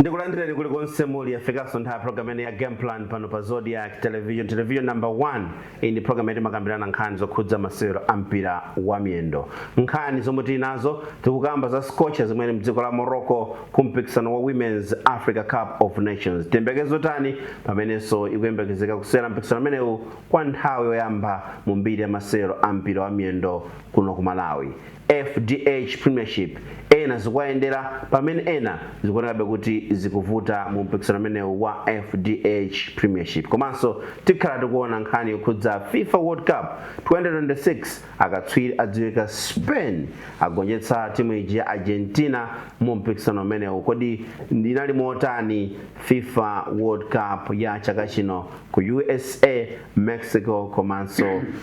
ndikulandireni kuli konse muli yafikanso nthawi program ene ya game plan pano pa zodiac television television number 1 iyi ndi program yati makambirana nkhani zokhudza masewero a mpira wa miyendo nkhani zomwe tili nazo tikukamba za scorchers zimene zili mdziko la morocco ku mpikisano wa women's africa cup of nations tiyembekezo tani pamenenso ikuyembekezeka kusewera mpikisano amenewu kwa nthawi yoyamba mu mbiri ya masewero a mpira wa miyendo kuno ku malawi fdh Premiership ena zikuwayendera pamene ena zikuonekabe kuti zikuvuta mu mpikisano umenewu wa fdh Premiership komanso tikhala tikuona nkhani yokhudza fifa World Cup 2026 akatswiri adziwika Spain agonjetsa timu iji ya Argentina mu mpikisano umenewu kodi inali motani fifa World Cup ya chaka chino ku usa Mexico komanso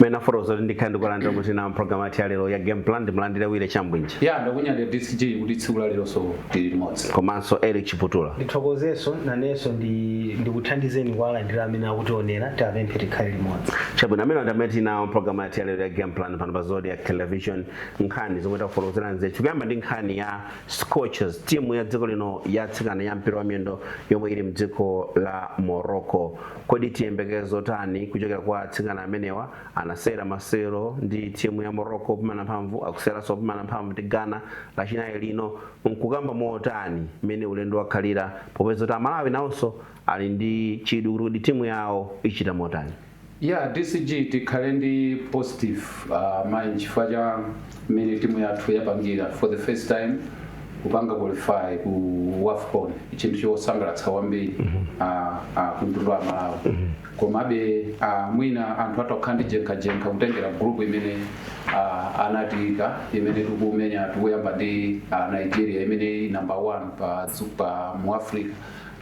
mene tafotokoza ndikhale ndikuwalandira amene tili nawo mu program yathu ya lero ya game plan ndimulandire wire chambwinji ya ndakunyadirani dcg kuti tsiku la leronso tili limodzi komanso eric chiputula ndithokozenso nanenso ndi- ndikuthandizeni kuwalandira amene akutionera tiwapemphe tikhale limodzi chabwino amenewa ndi amene tili nawo mu program yathu ya lero ya game plan pano pa zodiac television nkhani zomwe takufotokozerani zithu tikuyamba ndi nkhani ya scorchers timu ya dziko lino yatsikana ya mpira wa miyendo yomwe ili mdziko la morocco kodi tiyembekezo tani kuchokera kwa atsikana amenewa anasewera masewero ndi timu ya morocco popimana mphamvu akuseweranso popimana mphamvu ndi ghana lachinayi lino ukukamba motani mmene ulendo wakhalira popeza kuti amalawi nawonso ali ndi chidwi kuti timu yawo ichita motani Yeah DCG tikhale ndi positive uh, mind chifukwa cha mmene timu yathu yapangira for the first time kupanga qualify ku wafcon chinthu chosangalatsa kwambiri ah, ah, ku mtundu wa malawi komabe ah, mwina anthu atha kukhala ndi jenkhajenkha kutengera group imene ah, anatiika imene tikumenya tikuyamba ndi ah, nigeria imene ili number one pa, dzu- pa mu africa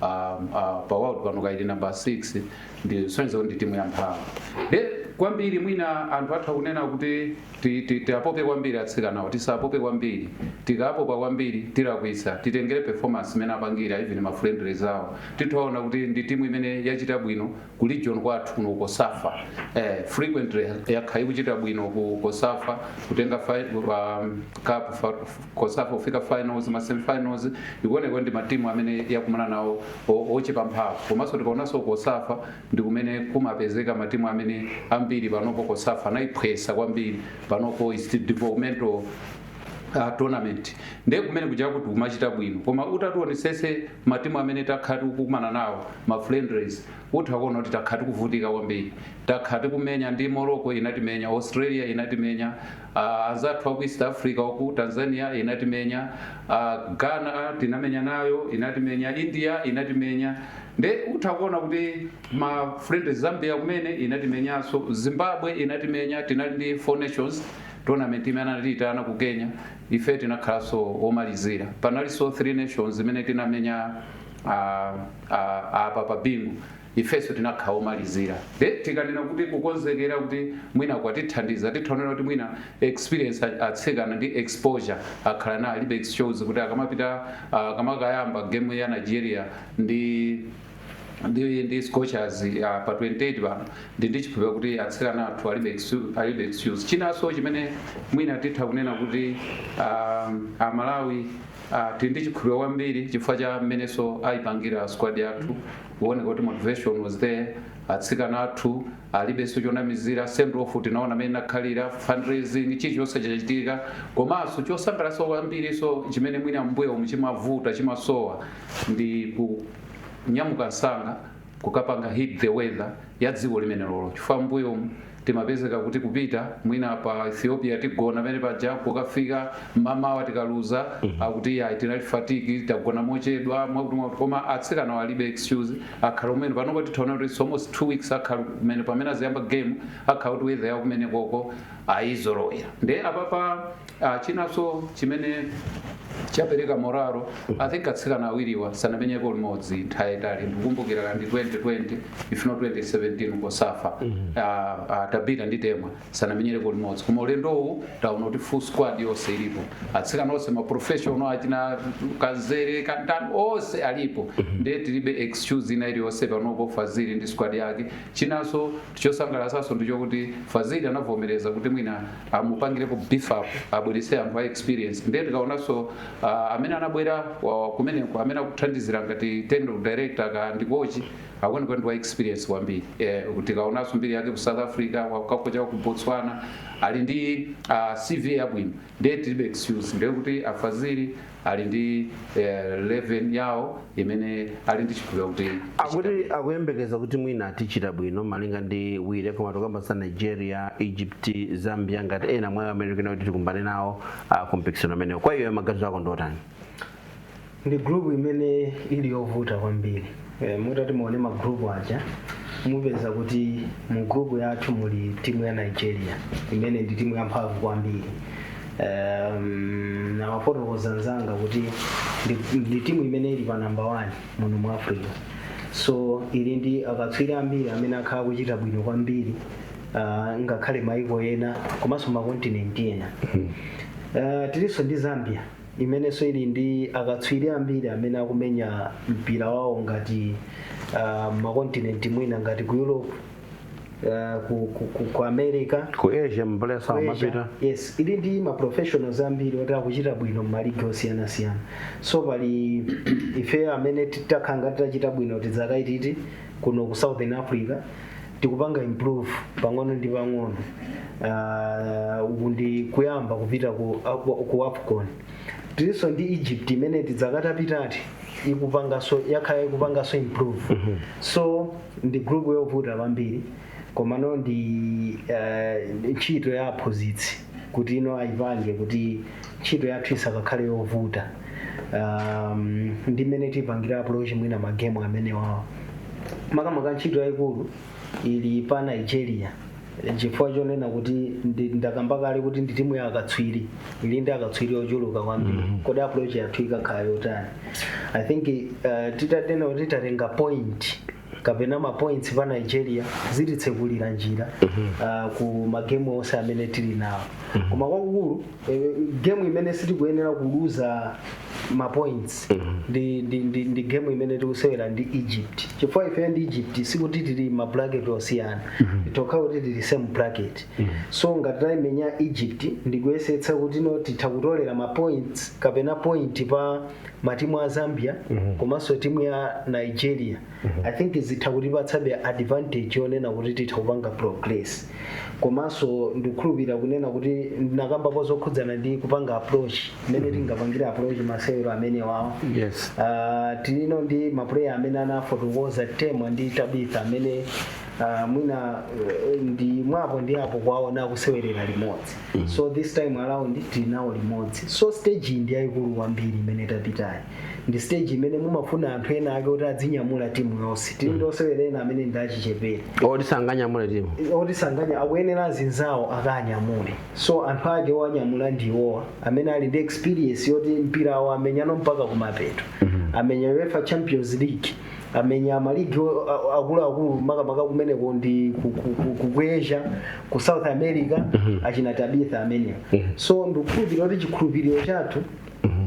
um, uh, pa world pano kaya ili number 6 ndiye zisonyeza kuti ndi timu yamphamvudi kwambiri mwina anthu atha kunena kuti ti- ti- tiapope kwambiri atsikanawo tisapope kwambiri tikapopa kwambiri tilakwitsa titengere performance imene apangira even ma friendlies awo titha kuona kuti ndi timu imene yachita bwino ku region kwathu kuno ku cosafa eh, frequently yakhala ikuchita bwino ku cosafa kutenga fi- um, cup fa- cosafa kufika finals ma semifinals ikuoneka kuti ndi ma team amene yakumana nawo o- ochepa mphamvu komanso tikaonanso cosafa ndi kumene kumapezeka ma team amene ambiri panopo cosafa anayiphwesa kwambiri panopo is the developmental uh, tournament ndiye kumene kuja timachita bwino koma utatiwonesese matimu amene takhala tikukumana nawo ma friendlies utha kuona kuti takhala tikuvutika kwambiri takhala tikumenya ndi morocco inatimenya australia inatimenya a anzathu aku east africa uku tanzania inatimenya a ghana tinamenya nayo inatimenya india inatimenya nde utha kuona kuti ma friendly zambia kumene inatimenyanso zimbabwe inatimenya tinali ndi four nations tournament imene anatiitana ku kenya ife tinakhalanso omalizira panalinso three nations imene tinamenya ah, ah, apa pa bingu Ifenso tinakhala omalizira nde tikanena kuti kukonzekera kuti mwina kwatithandiza titha kunena kuti mwina experience atsikana ndi exposure akhala nayo alibe excuse kuti akamapita akamakayamba game ya Nigeria ndi ndi ndi scorchers uh, pa 28 pano ndi ndikukhulupira kuti atsikana athu alibe excu- alibe excuse chinanso chimene mwina titha kunena kuti um, amalawi uh, tili ndi chikhulupiriro kwambiri chifukwa cha mmenenso ayipangira squad yathu ikuoneka kuti motivation was there atsikana athu alibenso chonamizira send off tinaona mmene inakhalira fundraising chilichonse chachitika komanso chosangalatsa kwambirinso chimene mwina mbuyo umu chimavuta chimasowa ndi kunyamuka msanga kukapanga hit the weather ya dziko limenelolo chifukwa mbuyo umu Timapezeka kuti kupita mwina pa Ethiopia tigona pene paja kukafika mmamawa tikaluza akuti ayi tinali fatigue tagona mochedwa mwakuti mwakuti koma atsikanawa alibe excuse akhala ali kumene panopa titha ona kuti it's almost two weeks akhala ali kumene pamene aziyamba game akhala kuti weather ya kumenekoko ayizolowera nde apapa Ah, chinanso chimene chapereka morale i think atsikana awiriwa sanamenyeko limodzi nthawi yaitali ndikukumbukira la ndi 2020 if not 2017 cosafa Ah, ah, tabitha ndi temwa sanamenyereko limodzi koma ulendowu taona kuti full squad yonse ilipo atsikana onse maprofessional achina kadzere kaya ndani onse alipo ndiye tilibe excuse ina iliyonse panopo fazili ndi squad yake chinanso chosangalatsanso ndichokuti fazili anavomereza kuti mwina amupangirepo beef up abwerese anthu a experience ndiye tikaonanso uh, amene anabwera uh, kumeneko amene akuthandizira ngati technical director ka ndi coach akuoneka kuti ndi wa experience kwambiri eh, tikaonanso mbiri yake ku south africa wakocha ku botswana ali ndi uh, cv yabwino ndiye tilibe excuse ndiye kuti a fazili ali ndi eh, level yawo imene ali ndi chikhulupiriro kuti hakuti akuyembekeza kuti mwina achita bwino malinga ndi wire koma tikamba za nigeria egypt zambia ngati ena mwa amene akuti tikumane nawo ah, ku mpikisano amenewo kwa iwo maganizo ako ndiotani ndi group imene ili yovuta kwambiri Eh, mutati muone ma group aja mupeza kuti mu group yathu muli timu ya nigeria imene ndi timu yamphamvu kwambiri um, wafotokoza mnzanga kuti ndi- ndi timu imene ili pa namba 1 muno mu africa so ili ndi akatswiri ambiri amene akhala akuchita bwino kwambiri uh, ngakhale maiko ena komanso makontinenti ena uh, tilinso ndi zambia imenenso ili ndi akatswiri ambiri amene akumenya mpira wawo ngati ah, m'makontinenti mwina ngati ku europe ah, ku, ku, ku, ku america ku asia mbalesa ku Asia. amapita yes ili ndi ma professionals ambiri oti akuchita bwino mmaligi osiyanasiyana so pali ife amene takhala ngati tachita bwino dzaka ititi kuno ku southern africa tikupanga improve pang'ono ndi pang'ono Ah, uku ndi kuyamba kupita ku, aku- ku afcon tilinso ndi egypt imene dzaka zapitazi ikupangaso yakhala ikupangaso improve so ndi group yovuta kwambiri komano ndi eh, ntchito ya aphunzitsi kuti iwo ayipange kuti ntchito yathu isakakhale yovuta um, ndi mmene tipangire approach mwina magemu amenewawo makamaka ntchito yayikulu ili pa nigeria chifukwa chonena kuti ndi- ndakamba kale kuti ndi timu ya akatswiri ili ndi akatswiri ochuluka kwambiri kodi approach yathu ikakhala yotani i think uh, titatena kuti tatenga point kapena mapoints pa nigeria zititsekulira njira ah, ku magemu onse amene tili nawo koma kwakukulu eh, gemu imene sitikuyenera kuluza mapoints ndi, ndi, ndi, ndi gemu imene tikusewera ndi egypt chifukwa ife ndi egypt sikuti tili ma bracket osiyana tikhala kuti tili mu same bracket so ngati tayimenya egypt ndikuyesetsa kuti no titha kutolera mapoints kapena point pa matimu a zambia komanso timu ya nigeria i think zitha kutipatsabe advantage yonena kuti titha kupanga progress komanso ndikukhulupirira kunena kuti ndinakambapo zokhudzana ndi kupanga approach mmene tingapangire approach masewero amene wawo yes Ah, tilinso ndi mapuleya amene anafotokoza temwa ndi tabitha amene ah, mwina eh, ndi mwa apo ndi apo kuwaona akusewerera limodzi so this time around tili nawo limodzi so stage iyi ndi yayikulu kwambiri imene tapitayi ndi stage imene mumafuna anthu ena ake kuti adzinyamula timu yonse tili ndi osewera ena amene ndi achichepere oti sanganyamule timu oti sanganya akuyenera azinzawo akanyamule so anthu ake owanyamula ndi awowa amene ali ndi experience yoti mpira awo amenyano mpaka kumapeto amenya uefa champions league amenya maligi o- a- a- akuluakulu makamaka kumeneko ndi ku- ku- ku- ku- ku asia ku south america achina tabitha amenewa so ndikukhulupirira kuti chikhulupiriro chathu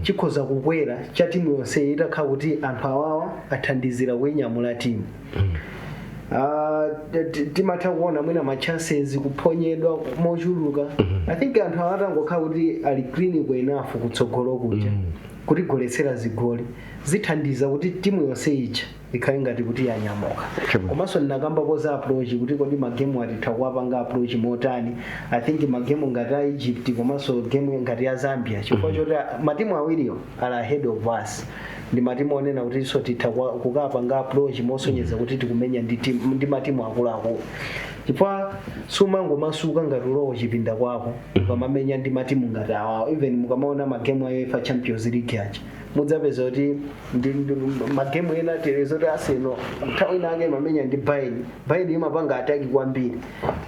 chikhoza kukwera cha timu yonse itakhala kuti anthu awawa athandizira kuinyamula timu Ah, t- t- timatha kuona mwina ma chances kuphonyedwa mochuluka i think anthu awatangokhala kuti ali clinical enough kutsogolo kuja kutigoletsera zigoli zithandiza kuti timu yonse ija ikhale ngati kuti yanyamuka Sure. komanso ndinakambako za approach kuti kodi magemu atitha kuwapanga approach motani i think magemu ngati a egypt komanso game ngati ya zambia chifukwa choti a- matimu awiriwo ali ahead of us ndi matimu onena kuti ife titha kuwa- kukapanga approach mosonyeza kuti tikumenya ndi timu- ndi matimu akuluakulu chifukwa sumangomasuka ngati ulowo chipinda kwako ukamamenya ndi matimu ngati awawo even mukamaona magemu a uefa champions league aja mudzapeza kuti ndi ndi magemu ena tili zoti aseno nthawi inake imamenya ndi bayeni bayeni imapanga ataki kwambiri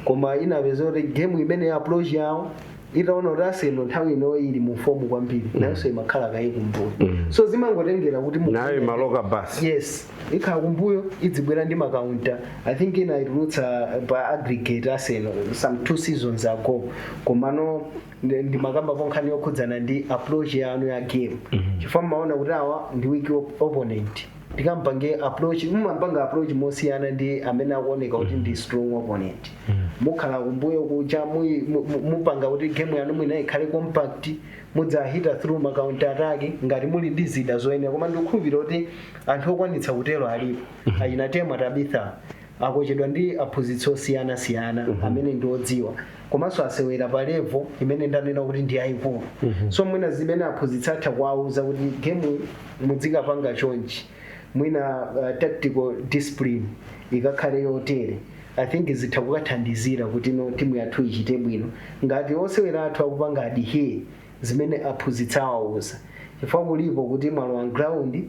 koma inapeza kuti gemu imene ya approach yawo itaona kuti aseno nthawi ino ili mu fomu kwambiri nayonso imakhala kaye kumbuyo so zimangotengera kuti mu- nayo imaloka basi yes ikhala kumbuyo idzibwera ndi makaunta i think inayitulutsa pa aggregate aseno some two seasons ago komano ndi- ndimakamba pa nkhani yokhudzana ndi approach yanu ya game chifukwa mmaona kuti awa ndi weak op- opponent tikapange approach mmampanga approach mosiyana ndi amene akuoneka kuti ndi strong opponent mukhala kumbuyo kuja mui- mu- mu- mupanga kuti game yanu mwina ikhale compact mudzahita through ma counter attack ngati muli ndi zida zoyenera koma ndikukhulupirira kuti anthu okwanitsa kutero alipo achina temwa tabitha akochedwa ndi aphunzitsi osiyana siyana amene ndi odziwa komanso asewera pa level imene ndanena kuti ndi yayikulu so mwina zimene aphunzitsi atha kuwauza kuti game mudzikapanga chonchi mwina uh, tactical discipline ikakhale yotere i think zitha kukathandizira kuti no timu yathu ichite bwino ngati osewera athu akupanga adhere zimene aphunzitsi awauza chifukwa kulipo kuti mwalowa ground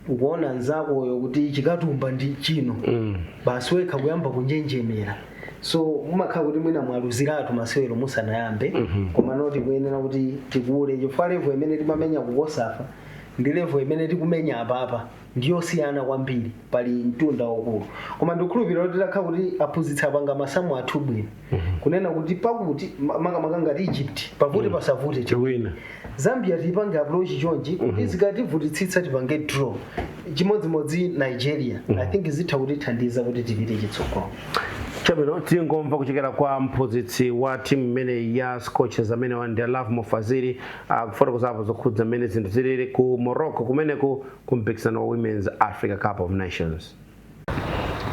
ukuona mzakoyo kuti chikatumba ndi chino Mm. basi wekha kuyamba kunjenjemera so mumakhala kuti mwina mwaluziratu masewero musanayambe komano tikuyenera kuti tikule chifukwa levo imene timamenya kukosafa ndi levo imene tikumenya apapa ndiyosiyana kwambiri pali mtunda waukulu koma ndikukhulupirira kuti titakhala kuti aphunzitsi apanga masamu athu bwino kunena kuti pakuti ma- makamaka ngati egypt pavute pasavute chimwe tiwina zambia tipange approach chonchi kuti zikativutitsitsa tipange draw chimodzimodzi nigeria i think zitha kutithandiza kuti tipite chitsogolo chabwino tangomva kuchokera kwa mphunzitsi wa timu imeneyi ya scorchers amene ndi lovemore fazili akufotokozapo zokhudza mmene zinthu zilili ku morocco kumeneko ku mpikisano wa women's africa cup of nations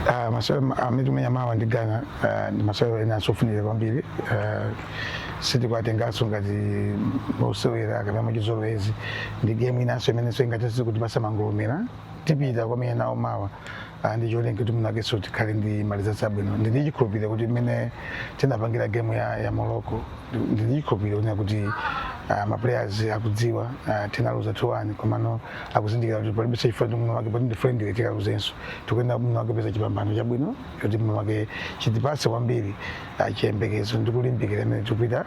Uh, masewero amene tikumenya mawa ndi Ghana uh, ndi masewero enanso ofunika kwambiri uh, sitikuwatenganso ngati osewera kapena muchizolowezi ndi game inanso imenenso ingathese kuti pasamangolomera tipita kwamene nawo mawa uh, ndi cholinga kuti mwinakenso tikhale ndi ma results abwino ndili chikhulupiriro kuti mmene tinapangira game ya, ya Morocco ndili chikhulupiriro kuti uh, maplayers akudziwa uh, tinaluza 2-1 komano akuzindikira kuti palibenso chifukwa chomwe mwake poti ndi friendly tikaluzenso tikuyenera mwina mwake kupeza chipambano chabwino choti mwina mwake chitipatse kwambiri ah, chiyembekezo ndi kulimbikira mmene tikupita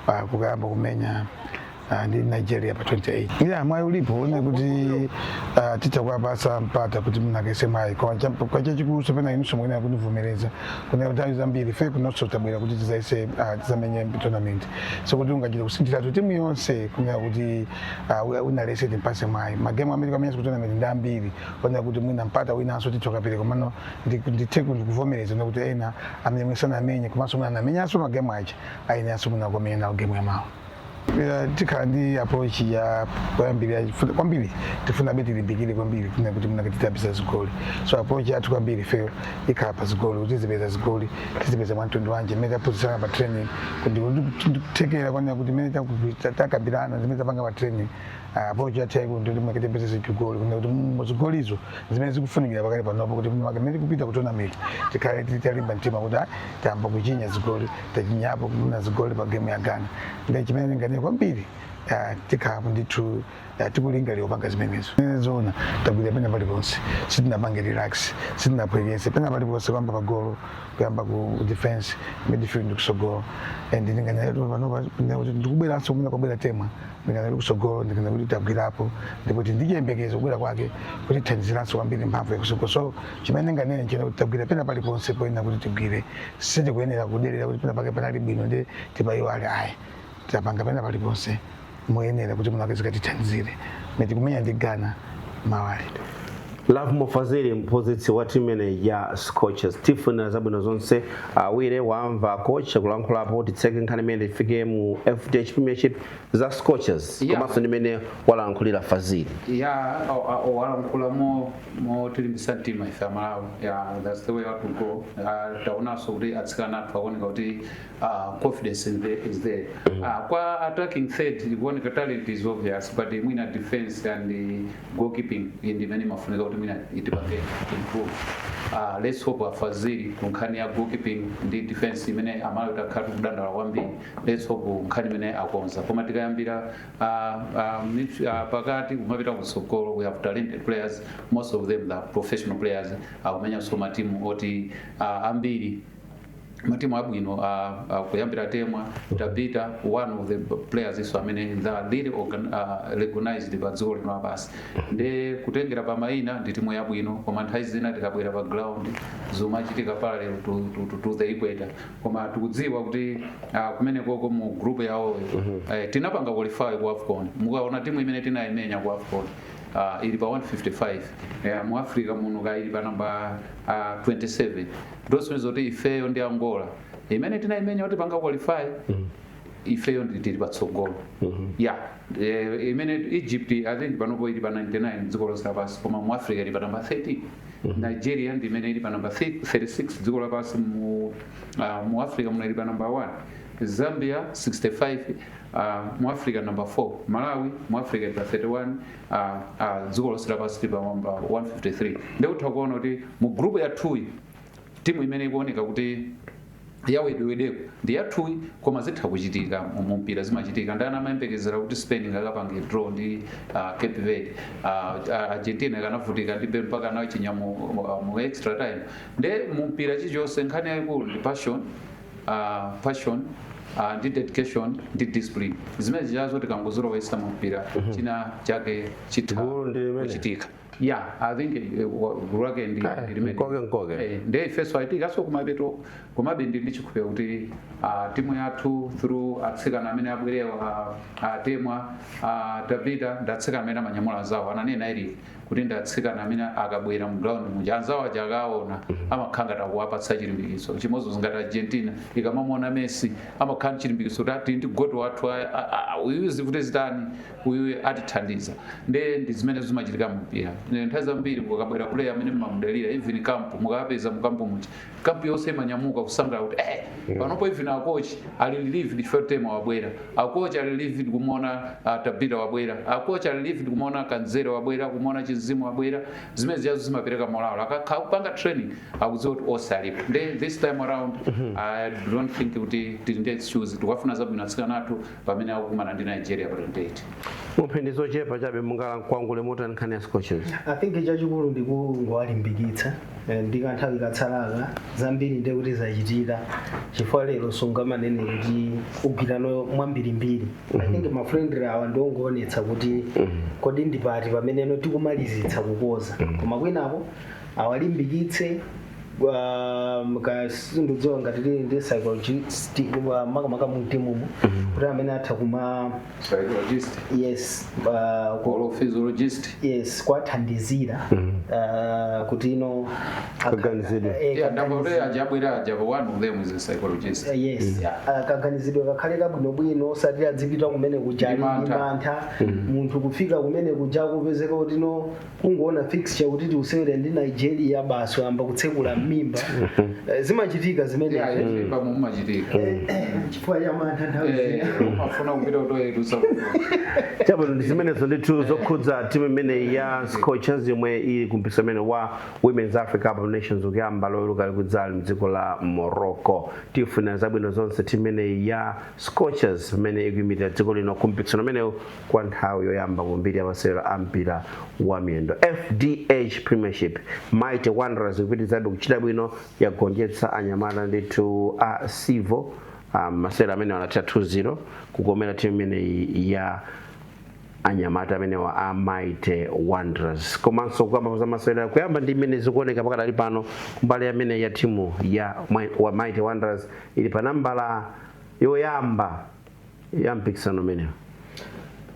ah, kukayamba kumenya ah, ndi nigeria pa 28 ya mwayi ulipo wonena kuti ah, titha kuwapatsa mpata kuti mwinakenso mwayi koma cha- koma chachikulu chomwe na inunso muyenera kutivomereza kunena kuti nthawi zambiri ife kunonso tabwera kuti tizayese ah, tizamenye tournament so sikuti ungachite kusinthiratu timu yonse kunena kuti Ah, we- wina aliyense timpase mwayi magemu amene tamenya si ku tournament ndi ambiri onena kuti mwina mpata winanso titha kapereka komano ndi- ndithe kuti kuvomereza nakuti ena amene mwina sanamenye komanso mwina anamenyanso magemu aja ayeneranso mwina kukamenya nawo gemu ya mawa Pira tikhala ndi approach ya kuyambira funa- kwambiri tifuna be tilimbikire kwambiri kunena kuti mwina kake titapeza zigoli so approach yathu kwambiri ifeyo ikhala pa zigoli kuti tizipeza zigoli tizipeza mwa mtundu wanji mmene taphunzitsana pa training kuti kuti ndikuthekera konena kuti mmene taku- ta- takambirana zimene tapanga pa training ah, approach yathu yaikulu ndi kuti mwake tipeze zigoli kunena kuti mu zigolizo zimene zikufunikira pakali panopa kuti mwake mmene tikupita ku tournament tikhale tili talimba mtima kuti ah, tayamba kuchinya zigoli tachinyapo kuno zigoli pa game ya ghana ndi chimene ndinganene kwambiri ah, tikhala ndithu Ya, tikulingalira kupanga zimenezo Eh, zoona tagwira pena paliponse sitinapange relax sitinapeputse pena paliponse kuyamba pagolo kuyamba ku defense midfield kusogolo and ndinganyadire panopa ndinene kuti ndikubweranso kumene kwabwera temwa ndinganyadire kusogolo ndikuona kuti tagwirapo ndipo kuti ndiyembekeza kubwera kwake kutithandiziranso kwambiri mphamvu yakusogolo so chimene ndinganene nchonena kuti tagwira pena paliponse poyenera kuti tigwire sitikuyenera kuderera kuti pena pake panali bwino nde tipaiwale ayi tapanga pena paliponse moyenera kuti mwinamwake zikatithandizire ngati tikumenya ndi ghana mawali Lovemore Faziri mphunzitsi wa timu imeneyi ya Scorchers tiwafunira zabwino zonse awiri wamva kocha akulankhulapo titseke nkhani imeneyi tifike mu FDH Premiership za Scorchers Yeah. komanso ndi mmene walankhulira Faziri ya walankhula mo motilimbisa mtima ife amalawi ya that's the way out to go Ah, taonanso kuti atsikana athu akuoneka kuti uh, confidence is there uh, kwa attacking third ikuoneka talent is obvious but uh, mwina defense and uh, goalkeeping ndi imene imafunika kuti mwina tipange improve uh, let's hope afaziri ku nkhani ya goalkeeping ndi defense imene amalawi takhala tikudandala kwambiri let's hope nkhani imeneyi akonza koma tikayambira uh, uh, mid- uh, pakati kumapita kutsogolo we have talented players most of them they are professional players akumenyanso matimu oti uh, ambiri matimu abwino kuyambira temwa tabita one of the players iwo amene they're really organ, uh, recognized pa dziko lino lapansi ndi kutengera pa mayina ndi timu yabwino koma nthawi zina tikabwera pa ground zimachitika parallel to, to, to, to the equator koma tikudziwa kuti uh, kumenekoko mu group yawoyo eh, tinapanga qualify ku afcon mukaona timu imene tinayimenya ku afcon uh, ili pa 155 eh, mu africa muno ka ili pa namba uh, 27 ndosonyeza kuti ifeyo ndi angola imene tinaimenya kuti tipange qualify ifeyo ndi- tili patsogolo ya eh, imene egypt i think panopo ili pa 99 dziko lonse lapansi koma mu africa ili pa namba 13 nigeria ndi imene ili pa namba 36 dziko lapansi mu, ah, mu africa muno ili pa namba 1 zambia 65 ah, mu africa namba 4 malawi mu africa ili pa 31 a, a dziko lonse lapansi tili pa namba 153 ndikutha kuona kuti mu group yathuyi timu imene ikuoneka kuti yawedewedeko ndi yathuyi koma zitha kuchitika mu- mu mpira zimachitika ndani amayembekezera kuti spain ingakapange draw ndi uh, cape verde uh, uh, argentina inakavutika ndi Bel- mpaka anachinya mu, mu, mu extra time nde mu mpira chilichonse nkhani yayikulu ndi passion a passion a ndi dedication ndi discipline zimenezijazo tikangozilowetsa mu mpira china chake chitha Gulu ndi limene. kuchitika ya i think eh, wa- gulu lake ndi ndi limene. mkoke mkoke. Eh, ndi ifeso atiikaso kumapeto komabe ndi ndichikhulupiriro kuti ah, timu yathu through atsikana amene abwerewa atemwa tabita ndi atsikana amene amanyamula anzawo ananena ili kuti ndi atsikana amene akabwera mu ground muja anzawo aja akawaona amakhala ngati akuwapatsa chilimbikitso chimodzimodzi ngati argentina ikamamuona messi amakhala ndi chilimbikitso kuti ah tili ndi goat wathu a- a- a- uyu zivute zitani uyu atithandiza nde ndi zimene zimachitika mu mpira Ndi nthawi zambiri kukabwera player amene mumamudalira even camp mukawapeza mu camp muja camp yonse imanyamuka kusangalala kuti eh panopo even akochi ali relieved temwa wabwera akochi ali relieved kumuona ah, tabitha wabwera akochi ali relieved kumuona kadzere wabwera kumuona chinzimu wabwera zimene zijazo zimapereka morale akakhala kupanga training akudziwa kuti onse alipo nde this time around i don't think kuti tili ndi excuse tikafuna zabwino atsikana athu pamene akukumana ndi nigeria pa 28 mumphindi zochepa chabe mungalankhule motani nkhani ya scorchers i think chachikulu ndikungowalimbikitsa eh, ndi kanthawi katsalaka zambiri ndiye kuti zachitika chifukwa lero sungamanene kuti ugwirano mwambirimbiri i think mafriendly awa ndiongoonetsa kuti kodi ndipati pameneno tikumalizitsa kukonza koma kwinako awalimbikitse um, kaya sindidziwa ngati tili ndi psychologist wa makamaka mu timumu kuti amene atha kuma psychologist yes uh, ku- or physiologist yes kuwathandizira uh, kuti you know Kaganizidwe. Eh, yeah kaganizidwe. madokotala aja abwera aja one of them is a psychologist Uh, yes Uh, kaganizidwe kakhale kabwinobwino osati adzipita kumene kuja Ndi mantha. mantha munthu kufika kumene kuja kupezeka kuti no kungoona fixture kuti tikusewera ndi nigeria basi wayamba kutsekula m'mimba Eh, zimachitika zimenezo ya m'mimba mumachitika chifukwa cha mantha nthawi zina umafuna kupita kutoilet chabwino ndi zimenezo ndithu zokhudza timu imeneyi ya scorchers yomwe ili kumpikisano umene wa women's africa cup of nations ukuyamba loweruka likudzali mdziko la morocco tiifunira zabwino zonse timu imeneyi ya scorchers imene ikuyimirira dziko lino kumpikisano umenewu kwa nthawi yoyamba mu mbiri ya masewero a mpira wa miyendo fdh premiership mighty wanderers ikupitirizabe kuchita bwino yagonjetsa anyamata ndithu a civo um, masewero amene anatha 2-0 kukomera timu imeneyi ya anyamata amenewa a mighty wanderers komanso kukamba za masewero kuyamba ndi mmene zikuoneka pakadali pano kumbali imeneyi ya timu ya Mi- wa mighty wanderers ili pa nambala yoyamba ya mpikisano umenewu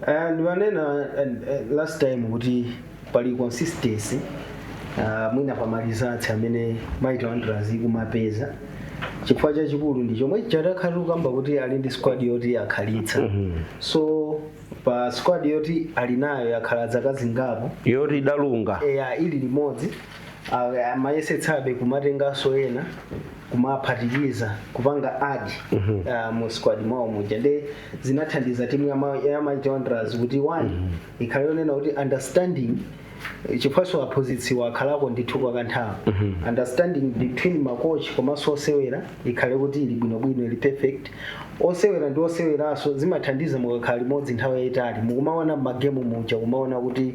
Ah, ndimanena ah, ah, last time kuti pali consistency ah, mwina pa maresults amene mighty wanderers ikumapeza chifukwa chachikulu ndi chomwe takhala tikukamba kuti ali ndi squad yoti akhalitsa so pa squad yoti ali nayo yakhala dzaka zingapo yoti idalunga eya ili limodzi ah, amayesetsabe kumatenganso ena kumaphatikiza kupanga add uh, mu squad mwawo muja nde zinathandiza timu ya Ma- ya Mighty Wanderers kuti one ikhale yonena kuti understanding eh, chifukwanso aphunzitsiwa akhalako ndithu kwa kanthawi understanding between makochi komanso osewera ikhale kuti ili bwinobwino ili perfect osewera ndi oseweraso zimathandiza mukakhala limodzi nthawi yayitali mukumaona mmagemu muja kumaona kuti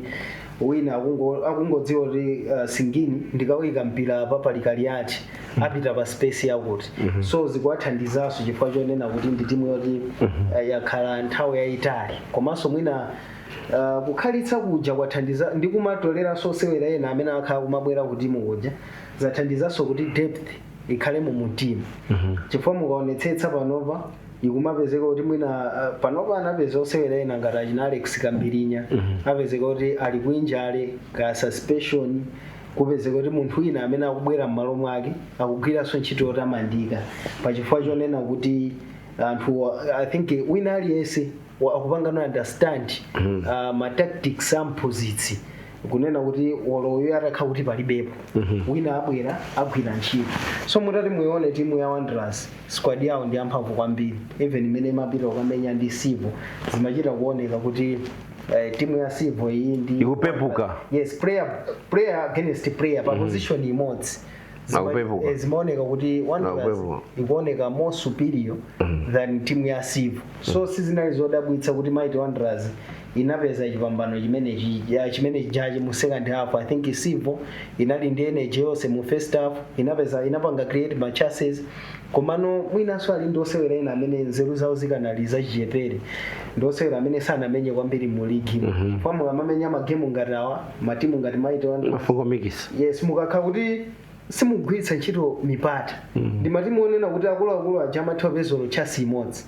wina akungo- akungodziwa kuti uh, ine ndikaika mpira apa pali Kaliati apita pa space yakuti so zikuwathandizanso chifukwa chonena kuti ndi timu yoti uh, yakhala nthawi yayitali komanso mwina uh, kukhalitsa kuja kwathandiza ndi kumatoleranso osewera ena amene akhala kumabwera ku timu kuja zathandizanso kuti depth ikhale mu timu chifukwa mukaonetsetsa panopa ikumapezeka kuti mwina uh, panopa ukapeza osewera ena ngati achina alex kambirinya apezeka kuti ali ku injury kaya suspension kupezeka kuti munthu wina amene akubwera m'malo mwake akugwiranso ntchito yotamandika pachifukwa chonena kuti anthu i think wina aliyense wa- akupangano understand uh, ma tactics a mphunzitsi kunena kuti olo uyu atakhala kuti palibepo wina abwera agwira ntchito so mutati muione timu ya wanderers squad yawo ndi yamphamvu kwambiri even imene imapita kukamenya ndi Civo zimachita kuoneka kuti eh, timu ya Civo iyi ndi Ikupepuka. yes player player against player pa position imodzi Akupepuka. Eh, zimaoneka kuti Wanderers Akupepuka. ikuoneka more superior than timu ya Civil so sizinali zodabwitsa kuti Mighty Wanderers inapeza chipambano chimenechi ya- chimene jaji mu second half i think Civil inali ndi energy yonse mu first half inapeza inapanga create ma chances komano mwinanso ali ndi osewera ena amene nzeru zawo zikanali zachichepere ndi osewera amene sanamenye kwambiri mu ligi mm-hmm. mmene amamenya magemu ngati awa matimu ngati mighty wanderers mafuko makamaka yes mukakhala kuti simugwiritsa ntchito mipata ndi matimu onena kuti akuluakulu aja amatha kupeza olo chance imodzi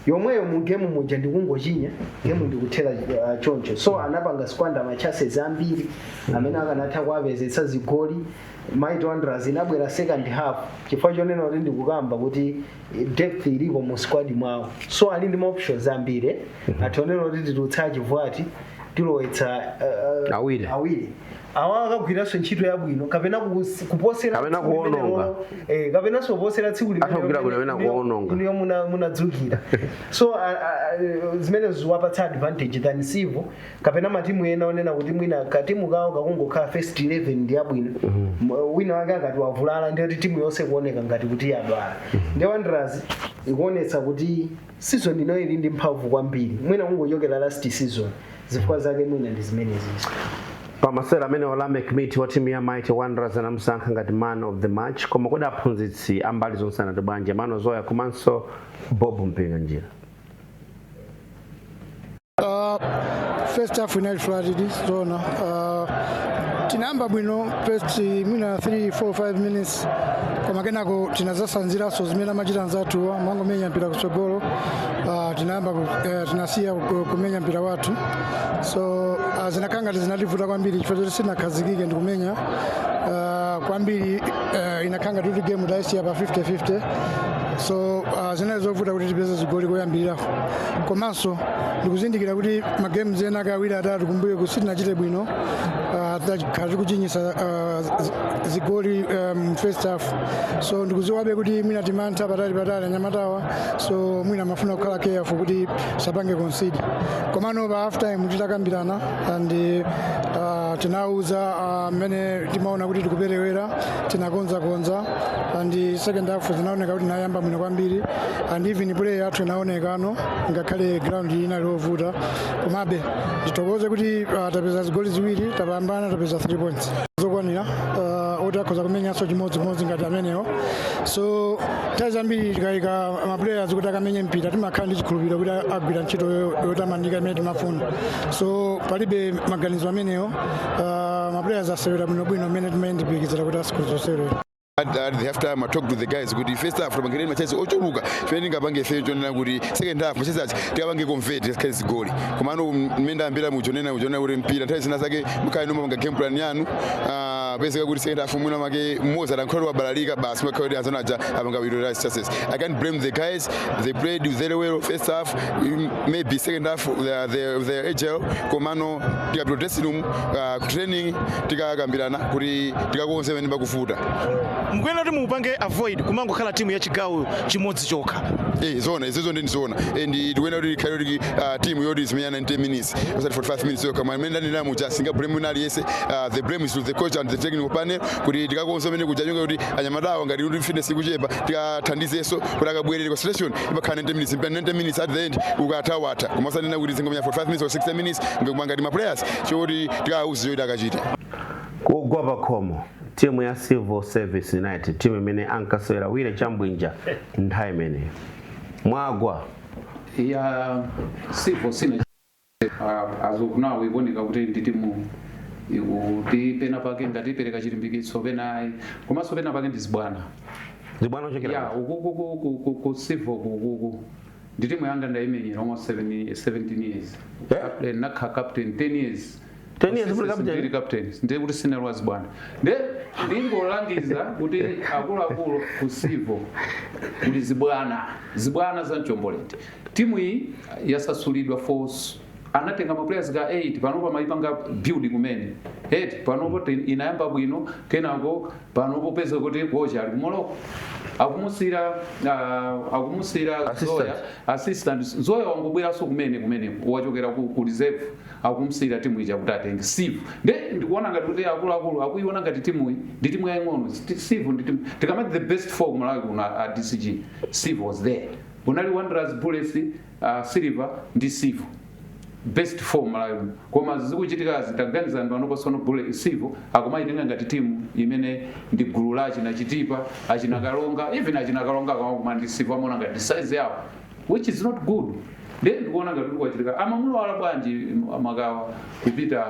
yomweyo mu game muja ndikungochinya game ndikuthera uh, choncho so anapanga squander ma chances ambiri amene akanatha kuwapezetsa zigoli mighty wanderers inabwera second half chifukwa chonena kuti ndikukamba kuti depth ilipo mu squad mwawo so ali ndi ma options ambiri atha kuona kuti titulutsa achiuyu ati tilowetsa uh, uh, Awiri. awiri awa akagwiranso ntchito yabwino kapena kus- kuposera Kapena tsiku limene kuononga. lo- eh, kapenanso kuposera tsiku limene Akagwira lo- bwino kapena limene- kuononga. limene muna- munadzukira so a- a- a- zimenezo zikuwapatsa advantage than Civo kapena matimu ena onena kuti mwina katimu kawo kakungokhala first 11 ndi yabwino M- wina wake akati wavulala ndiye kuti timu yonse kuoneka ngati kuti yadwala ndi wanderers ikuonetsa kuti season ino ili ndi mphamvu kwambiri mwina kungochokera last season zifukwa zake mwina ndi zimenezizo pamasewera amene Wallace Adam wa timu ya mighty wanderers anamusankha ngati man of the match koma kodi aphunzitsi ambali zonse anati bwanji Emmanuel Zoya komanso bob mpinganjira Uh, first half inali flat zona uh, tinayamba bwino first mwina 3 4 5 minutes koma kenako tinadzatsanziranso zimene amachita anzathu amangomenya mpira kutsogolo uh, tinayamba ku- eh, tinasiya ku- kumenya mpira wathu so uh, zinakhala ngati zinativuta kwambiri chifukwa choti sitinakhazikike ndi kumenya uh, kwambiri uh, inakhala ngati kuti game tayisiya pa 50 50 so uh, zinali zovuta kuti tipeze zigoli koyambirira komanso ndikuzindikira kuti magames enaake awiri atatu kumbuyoku sitinachite bwino ah, takhala tikuchinyisa ah, zi- zigoli mu first half so ndikuziwabe kuti mwina timantha patali patali anyamatawa so mwina amafuna kukhala careful kuti sapange concede komano pa half time tinakambirana and ah, tinawuza ah, mmene timaona kuti tikuperewera tinakonzakonza and second half zinaoneka kuti tinayamba bwino kwambiri and even play yathu inaonekano ngakhale ground inali ovuta komabe tithokoze kuti uh, tapeza zigoli ziwiri tapambana tapeza 3 points zokwanira uh, oti akhoza kumenyanso chimodzimodzi ngati amenewo so nthawi zambiri tikayika maplayers kuti akamenye mpira timakhala ndi chikhulupiriro kuti agwira ntchito yo- yotamandika imene timafuna so palibe maganizo amenewo Uh, maplayers asewera bwinobwino mmene timayembekezera kuti atsikuli asewera at the half time I talk to the guys kuti first half tapangireni machance ochuluka chimene tingapange ifeyo choonena kuti second half machance aja tikapange convert tikhale zigoli komano mmene ndayambira muchonena kuchonena kuti mpira nthawi zina zake mukhala mukupanga game plan yanu ah, pezeka kuti second half mistake mmodzi atankhole wabalalika basi zimakhala kuti anzanu aja apanga bwino right success I can't blame the guys they played very well first half maybe second half their their their agile komano tikapita dressing room uh, ku training tikakambirana kuti tikakonze pamene pakuvuta mukuyenera kuti mupange avoid kumangokhala timu ya chigawo chimodzi chokha Eh, zoona izozo ndi ndizoona and tikuyenera kuti ikhale kuti uh, timu yoti izimenya 90 minutes osati 45 minutes yokha monga mmene ndanena muja sindinga blame wina aliyense uh, the blame is to the coach and the technical panel kuti tikakonze pamene kuja chonena kuti anyamatawa ngati kuti fitness ikuchepa tikathandizenso kuti akabwerere kwa selection imakhala 90 minutes mpira 90 minutes at the end ukatha watha koma osanena kuti zingomenya 45 minutes or 60 minutes ndiye kumangoti ma players choti tikawauze choti akachite kugwa pakhomo timu ya civil service united timu imene ankasewera wire chambwandi nthawi imeneyo mwagwa yasiya civo sina as of now ikuoneka kuti ndi timu ikuti pena pake ngati ipereka chilimbikitso pena ayi komanso pena pake ndi zibwana zibwana vuto lachokera kuti? ukuku ku- ku- ku- ku civo kukuku ndi timu yanga ndaimenyera almost 7 17 years Eh? Captain- nakha captain 10 years 10 years full captain ndiri captain ndiye kuti sine lwazi bwana ndiye ndingolangiza kuti akuluakulu ku Civo kuti zibwana zibwana za mchombo lende timu iyi yasasulidwa force anatenga maplayers ka 8 panopo amayipanga build kumene eti panopo ti- inayamba bwino kenako panopo peza kuti kocha ali ku Morocco akumusiyira uh, akumusiyira Assistant. zoya assistant zoya wangobweranso kumene kumene wachokera ku, ku reserve akumsiyira timu ija kuti atenge Civo nde ndikuona ngati kuti akuluakulu akuiona ngati timuyi ndi timu yaying'ono Sti- Civo ndi timu tikamati the best four kumalawi kuno a a dcg Civo was there kunali wanderers bullets uh, silver ndi Civo best four malawi muno. koma zikuchitikazi taganiza anthu anopasono bule Civo akumayitenga ngati timu imene ndi gulu la achina Chitipa achina Karonga even achina Karonga akamakumana ndi Civo amaona ngati size yawo which is not good ndiye ndikuona ngati kuti kwachitika amamulola bwanji m- makawa kupita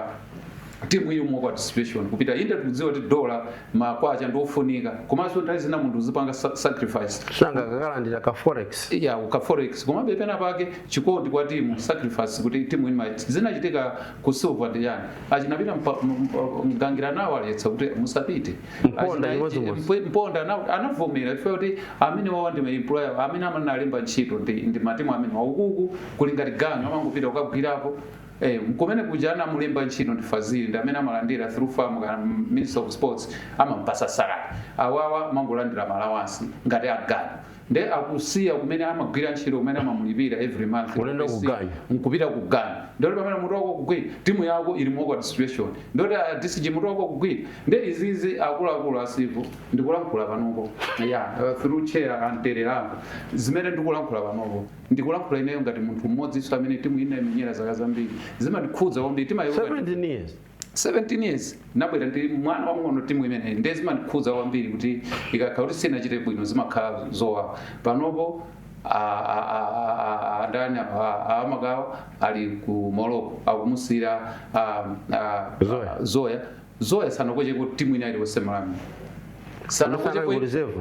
timu ili mu bad situation kupita inde tikudziwa kuti dola makwacha ndi ofunika komanso nthawi zina munthu uzipanga sa- sacrifice sanga kakalandira ka forex ya ka forex komabe pena pake chikondi kwa timu sacrifice kuti timu ino zinachitika ku silver ndi yani achina Peter mpa- m- m- mgangira anawaletsa kuti musapite Mponda Achina- ndiponso Ngosi. Mp- mponda ana- anavomera chifukwa kuti amene awawa ndi maemployer amene amanalemba ntchito ndi, ndi matimu amenewa ukuku kuli ngati ganyu amangopita kukagwirapo Eh, kumene kuja anamulemba ntchito ndi fazili ndi amene amalandira through FAM kana ministry of sports amampasa salary awawa amangolandira maalawansi ngati aganyu nde akusiya kumene amagwira ntchito kumene amamulipira every month Ulendo ku Akusiya, ganyu. nkupita ku ganyu ndoti pamene mutu wako ukugwira timu yako ili mu awkward situation ndoti a dcg mutu wako ukugwira nde izizi akuluakulu a Civo ndikulankhula panopo ya uh, through chair antererako zimene ndikulankhula panopo ndikulankhula ineyo ngati munthu mmodzinso amene timu ndinaimenyera zaka zambiri zimandikhudza kwambiri timayiona 17 years 17 years nabwera ndi mwana wamng'ono timu imeneyi ndiye zimandikhudza kwambiri kuti ikakhala kuti sinachite bwino zimakhala zowawa panopo a- a- a- a- a- ndani a- a- a Makawa ali ku Morocco akumusiyira a- a- Zoya. zoya zoya sanakocheko timu ina iliyonse malawi Anafana ku reserve?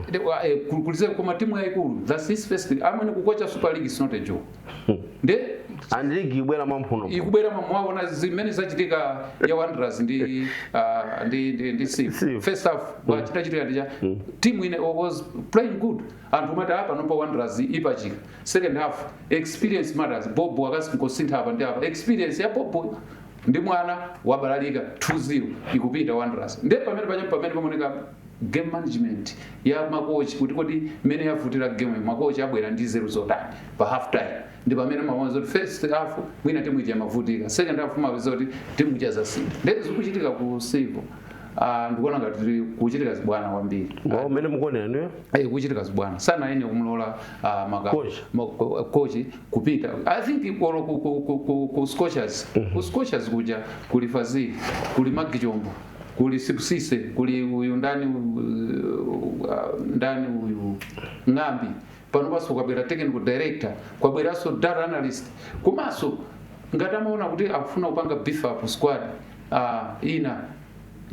ku reserve koma timu yayikulu that's his first amwene kukocha super league is not a joke nde and league ibwera mwamphuno ikubwera mwa- mwaona zimene zachitika ya wanderers ndi ah, ndi ndi, ndi City. City. first half chitachitika ndija team ina was playing good anthu amati apa nomba wanderers ipachika second half experience matters Bob akasi nkosintha apa ndi apa experience ya Bob ndi mwana wabalalika 2-0 ikupita wanderers nde pamene paja pamene pamoneka game management ya makochi kuti kodi mmene yavutira game makochi abwera ndi nzeru zotani pa half time ndi pamene umaona zoti first half mwina timu ija imavutika second half umapeza kuti timu ija zasintha ndee zikuchitika ku civil Ah, ndikuona ngati kukuchitika zibwana kwambiri Ngati mmene mukuonera inuyo? Eh, kuchitika zibwana sana ene kumlola ah, maka- Coach. ma- ko- kochi kupita i think koma ku, ku, ku, ku, ku scorchers ku scorchers kuja kuli fazili kuli maggie chombo kuli sibusiso kuli uyu ndani uh, ndani uyu ng'ambi pano panso kwabwera technical director kwabweranso data analyst komanso ngati amaona kuti akufuna kupanga beef up squad uh, ina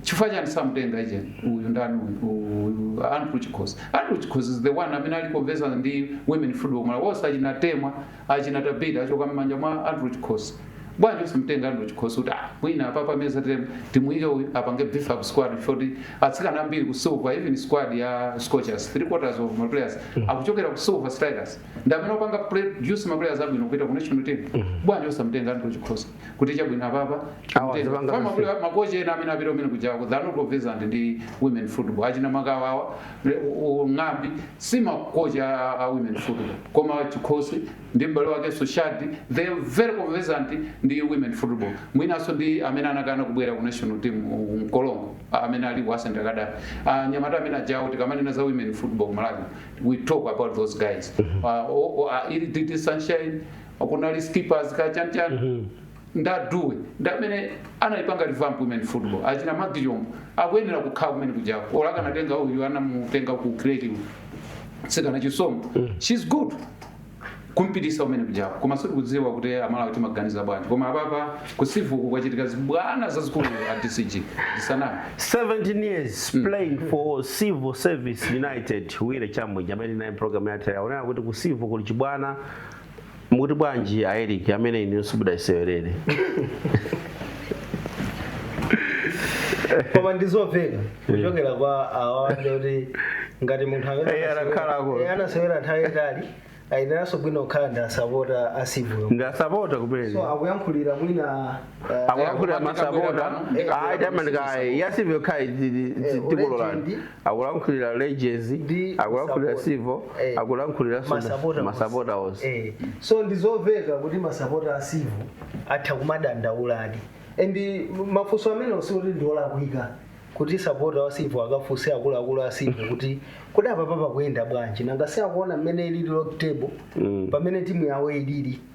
chifukwa chani samutenga uje uyu ndani uyu- uyu andrew chikhosi andrew chikhosi is the one amene ali conversant ndi women football malawi wose achina temwa achina tabitha achoka mmanja mwa andrew chikhosi bwanji usimtenge andrew chikhosi kuti ah mwina apapa mwadza team timuyike uyu apange beef up squad chifukwa atsikana ambiri ku silver even squad ya scorchers three quarters of ma players akuchokera ku silver strikers ndi amene akupanga produce ma players abwino kupita ku national team bwanji usamtenge andrew chikhosi kuti chabwino apapa amapita makochi ena amene apita kumene kuja they are not conversant ndi women football achina makawawa ng'ambi si makochi a a women football koma chikhosi ndi m'bale wakenso shadi they are very conversant ndi women football mwinanso ndi amene anakana kubwera ku national team uh, mkolongo uh, amene ali ku ascent academy uh, nyamata amene ajawo tikamanena za women football ku malawi we talk about those guys uh, o- o- uh, ili titi sunshine kunali skippers ka chan chan Mhm. andrew ndamene anayipanga revamp women football achina maggie chombo akuyenera kukhala kumene kujako olo akanatenga uyu anamutenga ku creative sikana chisomo she's good kumpitisa kumene kujako koma sitikudziwa kuti amalawi timaganiza bwanji koma apapa ku civil ku kwachitika zibwana zazikulu a dcg zisanami 17 years playing for civil service united willy chabwinja amene naye program yathera ponena kuti ku civil kuli chibwana mukuti bwanji a eric amene inuyo simudayisewerere koma ndizomveka kuchokera kwa awanja kuti ngati munthu amene Eh, anasewera- anakhala akulu. eh, anasewera nthawi yatali ayeneranso bwino kukhala ndi asapota a civil ndi asapota kumene so akuyankhulira mwina akulankhulira masapota ayi tamandikayi a civil kapena tikulolani akulankhulira legends Ndi akulankhulira masapota. civil Eh. akulankhulira Masapota onse. masapota onse Eh, so ndizomveka kuti masapota a civil atha kumadandaula di and mafunso amenewo osati kuti ndiolakwika kuti sapota wa civil akafunse akuluakulu a civil kuti kodi apapa pakuyenda bwanji nanga si akuona mmene ilili log table Mm. pamene timu yawo ilili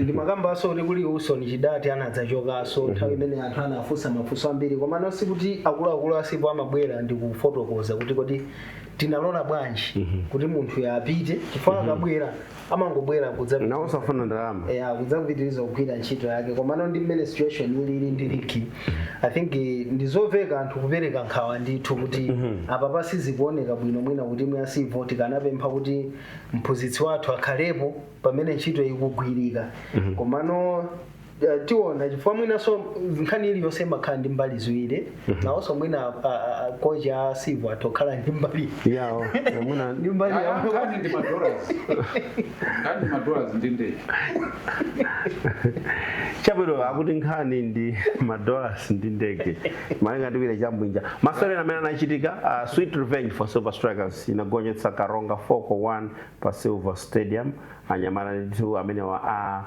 ndimakambanso kuti kuli wilson chidati anadzachokanso nthawi imene anthu anafunsa mafunso ambiri komano sikuti akuluakulu a civo amabwera ndi kufotokoza kuti kodi tinalola bwanji kuti munthuyu apite chifukwa akabwera amangobwera kudza nawo safuna ndalama eh, akudzapitiriza kugwira ntchito yake komano ndi mmene situation ilili ndi ligi i think eh, ndizoveka anthu kupereka nkhawa ndithu kuti apapa sizikuoneka bwino mwina kuti mwina civo tikanapempha kuti mphunzitsi wathu akhalepo pamene ntchito ikugwirika komano eh, tiona chifukwa mwinanso nkhani iliyonse imakhala ndi mbali ziwiri nawonso mwina a- a- a- kochi a civo atokhala ndi mbali yawo mwina ndi mbali yawo Nkhani ndi madollars. Nkhani ndi madollars ndi ndege. chabwino akuti nkhani ndi madollars ndi ndege malinga ndi willy chabwinja masewera amene anachitika uh, sweet revenge for silver strikers inagonjetsa karonga 4 kwa 1 pa silver stadium anyamata ndithu amenewa a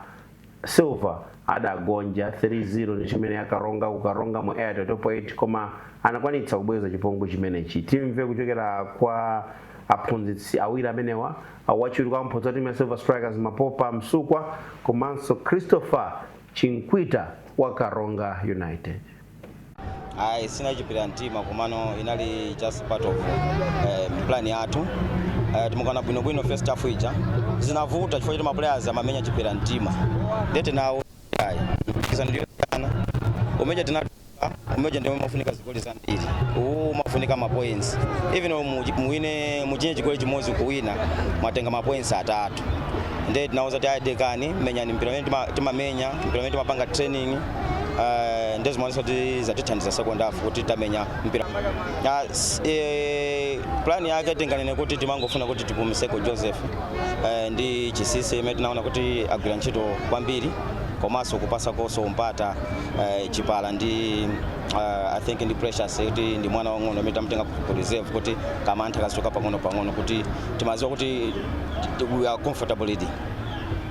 silver adagonja 3-0 ndi timu imeneyi ya karonga ku karonga mu airtel top 8 koma anakwanitsa kubweza chipongwe chimenechi timve kuchokera kwa aphunzitsi awiri amenewa awachiwiri kwa mphunzitsi wa timu ya silver strikers mapopa msukwa komanso christopher chinkwita wa karonga united ayi sinali chipira mtima komano inali just part of eh, plan yathu eh, timauzana bwinobwino first half ija zinavuta chifukwa choti maplayers amamenya chipira mtima nde tinawauza ayi mpikisano ndi wosiyana umeja tinatuluka umeja ndio umafunika zigoli zambiri uwu umafunika mapoints even mu- muwine muchinye chigoli chimodzi kuwina mwatenga mapoints atatu nde tinauza ti ayi dekani menyani mpira umene tima- timamenya mpira umene timapanga training Eh, ndiye zimaonesa kuti zatithandiza second half kuti tamenya mpira Ya, s- eh, plan yake tinganene kuti timangofuna kuti tipumiseko joseph eh, ndi chinsinsi amene tinaona kuti agwira ntchito kwambiri komanso kupasakonso mpata eh, chipala ndi uh, i think ndi precious kuti ndi mwana wang'ono amene tamtenga ku reserve kuti kamantha kazichoka pang'ono pang'ono kuti timaziwa kuti t- we are comfortable leading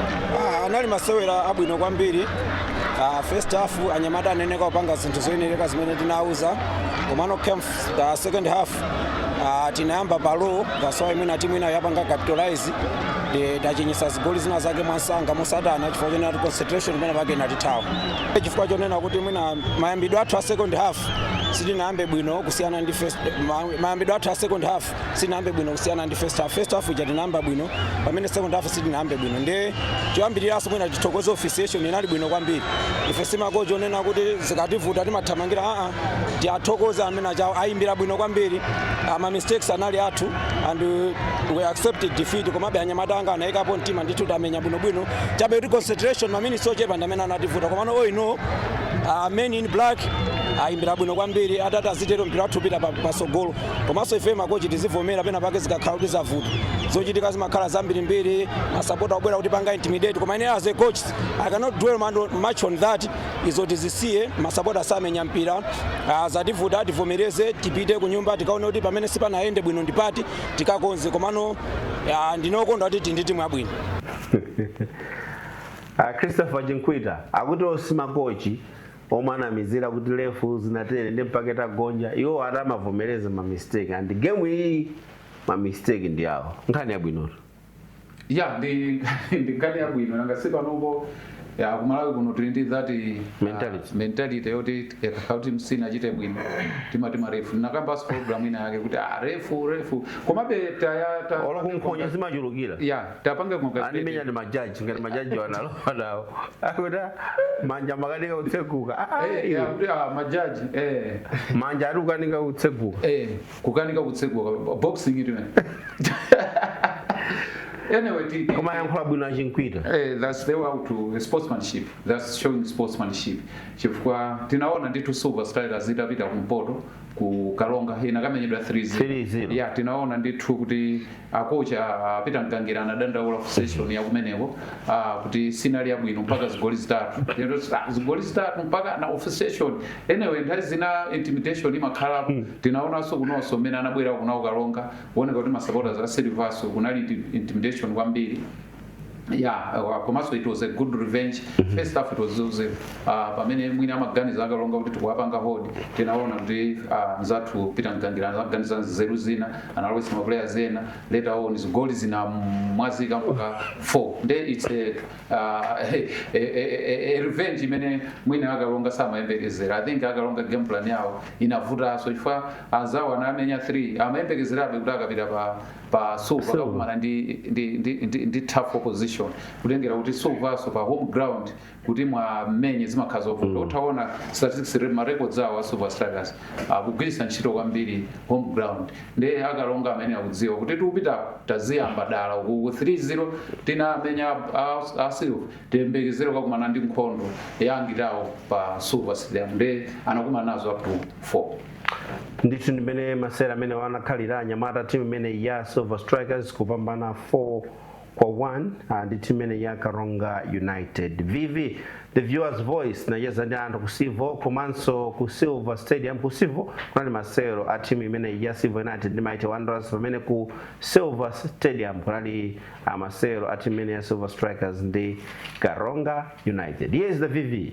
Ah, anali masewera abwino kwambiri Ah, first half anyamata aneneka kupanga zinthu zoyenereka zimene tinauza komano come the second half ah, tinayamba pa low that's why mwina timu inayo yapanga capitalize ndi tachinyisa zigoli zina zake mwansanga motsatana chifukwa chonena kuti concentration penapake inatithawa chifukwa chonena kuti mwina mayambidwe athu a second half sitinayambe bwino kusiyana ndi first ma- mayambidwe athu a second half sinayambe bwino kusiyana ndi first half. First half ija tinayamba bwino pamene second half sitinayambe bwino nde choyambiriranso mwina tithokoze officiation inali bwino kwambiri ife simakochi onena kuti zikativuta timathamangira aa tiwathokoze ameni achawo ayimbira bwino kwambiri Ah, ma mistakes anali athu and uh, we accepted defeat komabe anyamata anga anayikapo mtima ndithu tamenya bwinobwino chabe kuti concentration maminitsi ochepa ndi amene anativuta komano all in all uh, men in black ayimbira bwino kwambiri atati azitere mpira wathu upita pa- patsogolo komanso ife makochi tizivomera pena pake zikakhala kuti zavuta zochitika zimakhala zambirimbiri masapota obwera kutipanga intimidate koma ine as a coach i cannot dwell much on that izo tizisiye masapota samenya mpira uh, zativuta tivomereze tipite ku nyumba tikaone kuti pamene sipanayende bwino ndipati tikakonze komano uh, ndine okondwa kuti tindi timu yabwino uh, christopher chinkwita akuti iwo si makochi omwe amanamizira kuti refu zinatere ndi mpaka tagonja iwo ati amavomereza ma mistake ndi game iyi ma mistake ndi awo nkhani yabwinotu ya ndi ndi nkhani yabwino nanga si panopo ya kumalawi kuno tili ndi that Mentality. mentality yoti yakuti timu isanachite bwino timati marefu tinakambanso program ina yake kuti ah, refu refu komabe taya ta- olo nkhonya zimachulukira ya tapanga kungazete animenya ndi majaji ngati majaji analowa nawo akuti manja amakanika kutseguka Ah, ah, Eh, iwe. akuti, ah, majaji eh manja akukanika kutseguka eh kukanika kutseguka boxing it man anyway ti- koma ayankhula bwino achinkwita Eh, that's the way to sportsmanship that's showing sportsmanship chifukwa tinaona ndithu silver strikers itapita kumpoto ku karonga inakamenyedwa 3-0 ya tinaona ndithu kuti akochi ah, peter mgangira anadandaula officiation ya kumeneko ah, kuti sinali yabwino mpaka zigoli zitatu Lero zi- ah, zigoli zitatu mpakana officiation anyway nthawi zina intimidation imakhalapo tinaonanso kunonso mmene anabwera kuno a karonga kuoneka kuti masapota a silvanso kunali inti- intimidation kwambiri yeah uh, komanso it was a good revenge mm -hmm. first half it was zero uh, pamene mwina amaganiza akaronga kuti tikuwapanga hold tinaona kuti uh, mzathu peter mgangira anaganiza nzeru zina analowetsa mapuleya ena later on zigoli zinamwazika mpaka 4 nde its a, uh, a, a, a, a revenge imene mwina akaronga samayembekezera i think akaronga game plan yawo inavutanso chifukwa anzawo anamenya 3 amayembekezerabe kuti akapita pa pa silver Silver. akakumana ndi, ndi, ndi, ndi, ndi tough opposition kutengera kuti silverso pa home ground kuti muwamenye zimakhala zovuta ukaona statistics re- ma records awo a silver strikers akugwiritsa ntchito kwambiri home ground nde akaronga amene akudziwa kuti tikupitapo taziyamba dala uku 3-0 tinamenya a- a- a silver tiyembekezere kukakumana ndi nkhondo yang'ong'ono pa silver stadium nde anakumana nazo up to 4 ndithu ndimene masewera amenewa anakhalira anyamata a timu imeneyi ya silver strikers kupambana 4 kwa 1 ah, ndi timu imeneyi ya karonga united vv the viewers voice inacheza ndi anthu ku civo komanso ku silver stadium ku civo kunali masewero a timu imeneyi ya civil united ndi mighty wanderers pamene ku silver stadium kunali ah, masewero a timu imeneyi ya silver strikers ndi karonga united yes the vv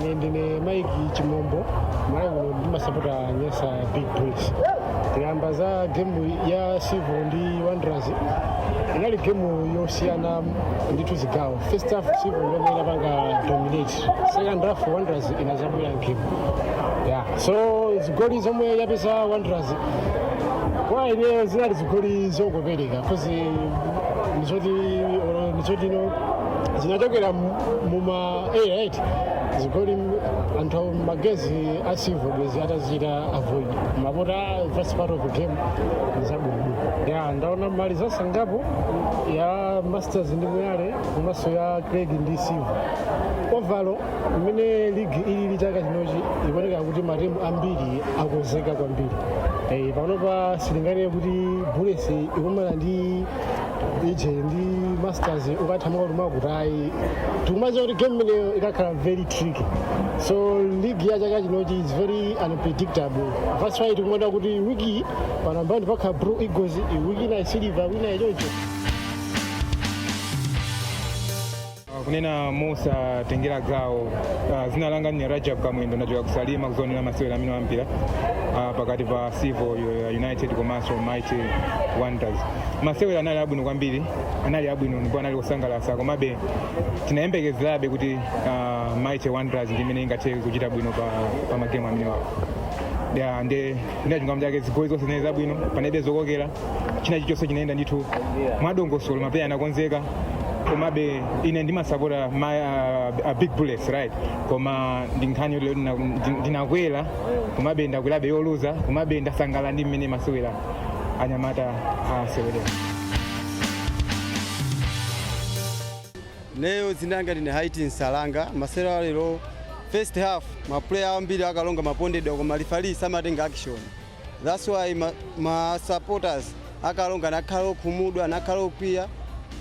ine ndine mike chimombo ndimasapota nyasa big bullets tikayamba za gemu ya civil ndi wanderers inali gemu yosiyana ndithu zigawo first half civil yomwe inapanga dominate second half wanderers inazabwera gemu yeah. so zigoli zomwe yapeza wanderers kwa ine zinali zigoli zongopereka kozi n'zoti n'zoti zinachokera muma 18 zoti anthu ma guys a civil bwezi atazita avoid apart from first part of the game zabwino ya ndaona ma result angapo ya masters ndi moyale komanso ya creck ndi silver overall mmene ligi ili ya chaka chinochi ikuoneka kuti matimu ambiri akozeka kwambiri Eh, panopa sunganene kuti bullets ikumana ndi ije ndi masters ukatha mwakutimwakuti tikumaziwa kuti game imeneyo ikakhala very tricky so league ya chaka chinochi is very unpredictable that's why tikumaona kuti wiki pa number one pakhala blue eagles wiki inayi silver ina iyi choncho kunena mosatengera gawo uh, zina langa ni rajab kamwendo ndachokera ku salima kuzaonera masewera amenewa a mpira uh, pakati pa civil uh, united komanso mighty wanderers masewera anali abwino kwambiri anali abwino ndipo anali osangalatsa komabe tinayembekezerabe kuti uh, mighty wanderers ndi imene ingathe kuchita bwino pa, pa magemu amenewawo ya nde ina chingamo chake zigoli zonse zinali zabwino panalibe zokokera china chilichonse chinayenda ndithu mwadongosolo mapuleya anakonzeka komabe ine ndimasapota ma uh, uh, big bullets right koma ndi nkhani yoti ndina- ndi- ndinakwera komabe ndakwerabe yoluza komabe ndasangala ndi mmene masewera anyamata asewerera ineyo zina langa ndine haiti nsalanga masewero a lero first half mapuleya ambiri a karonga amapondedwa koma lifali samatenga action That's why ma, ma supporters a karonga anakhala okhumudwa anakhala okwiya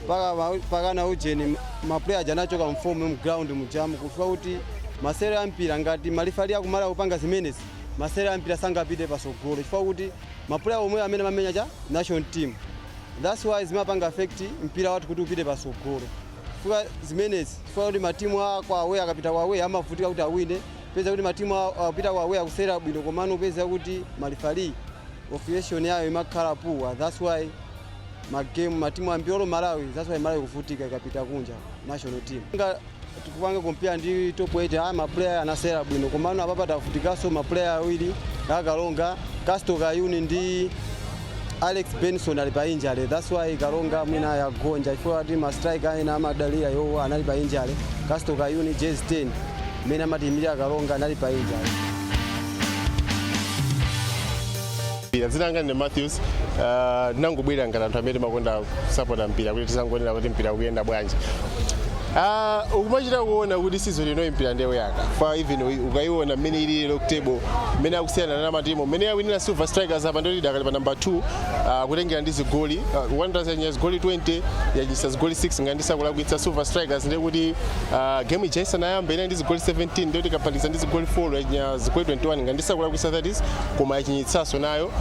paka ma- pakana ujeni maplayer aja anachoka mfomu mu ground mujamu chifukwa kuti masewero a mpira ngati malifali akumalikupanga zimenezi masewero a mpira sangapite pasogolo chifukwa kuti maplayer omwewo amene amamenya cha national team that's why zimapanga affect mpira wathu kuti usapite pasogolo chifukwa zimenezi chifukwa kuti matimu akwawe akapita kwawe amavutika kuti awine Peza kuti matimu awo akupita ku away akusewera bwino komano peza kuti ma referee officiation yayo imakhala poor that's why ma game matimu ambiri olo Malawi that's why Malawi ikuvutika ikapita kunja national team nga tikupanga compare ndi top 8 ah ma player anasewera bwino komano apapa tavutikaso ma player awiri a Karonga Casto Kayuni ndi Alex Benson ali pa injury that's why Karonga mwina yagonja chifukwa kuti ma striker ena amadalira iwo anali pa injury Casto Kayuni jersey 10 amene amatiimira Karonga anali pa injury mpira dzina langa ndine Matthews uh, ndinangobwera ngati anthu amene timakonda kusapota mpira kuti tizangoonera kuti mpira ukuyenda bwanji Ah, ukumachita kuona kuti season ino yimbira ndewu yaka pa even uyi- ukayiona mmene ili lero ku table mmene akusiyana na matimu mmene awinira silver strikers apa ndoti dakali pa number 2 ah, kutengera ndi zigoli uh, wanderers yachinya zigoli 20 yachinyitsa zigoli 6 ngati ndisakulakwitsa silver strikers ndiye kuti ah, game ija isanayamba inali ndi zigoli 17 ndiye kuti kuphatikiza ndi zigoli 4 yachinya zigoli 21 ngati ndisakulakwitsa that is koma yachinyitsaso nayo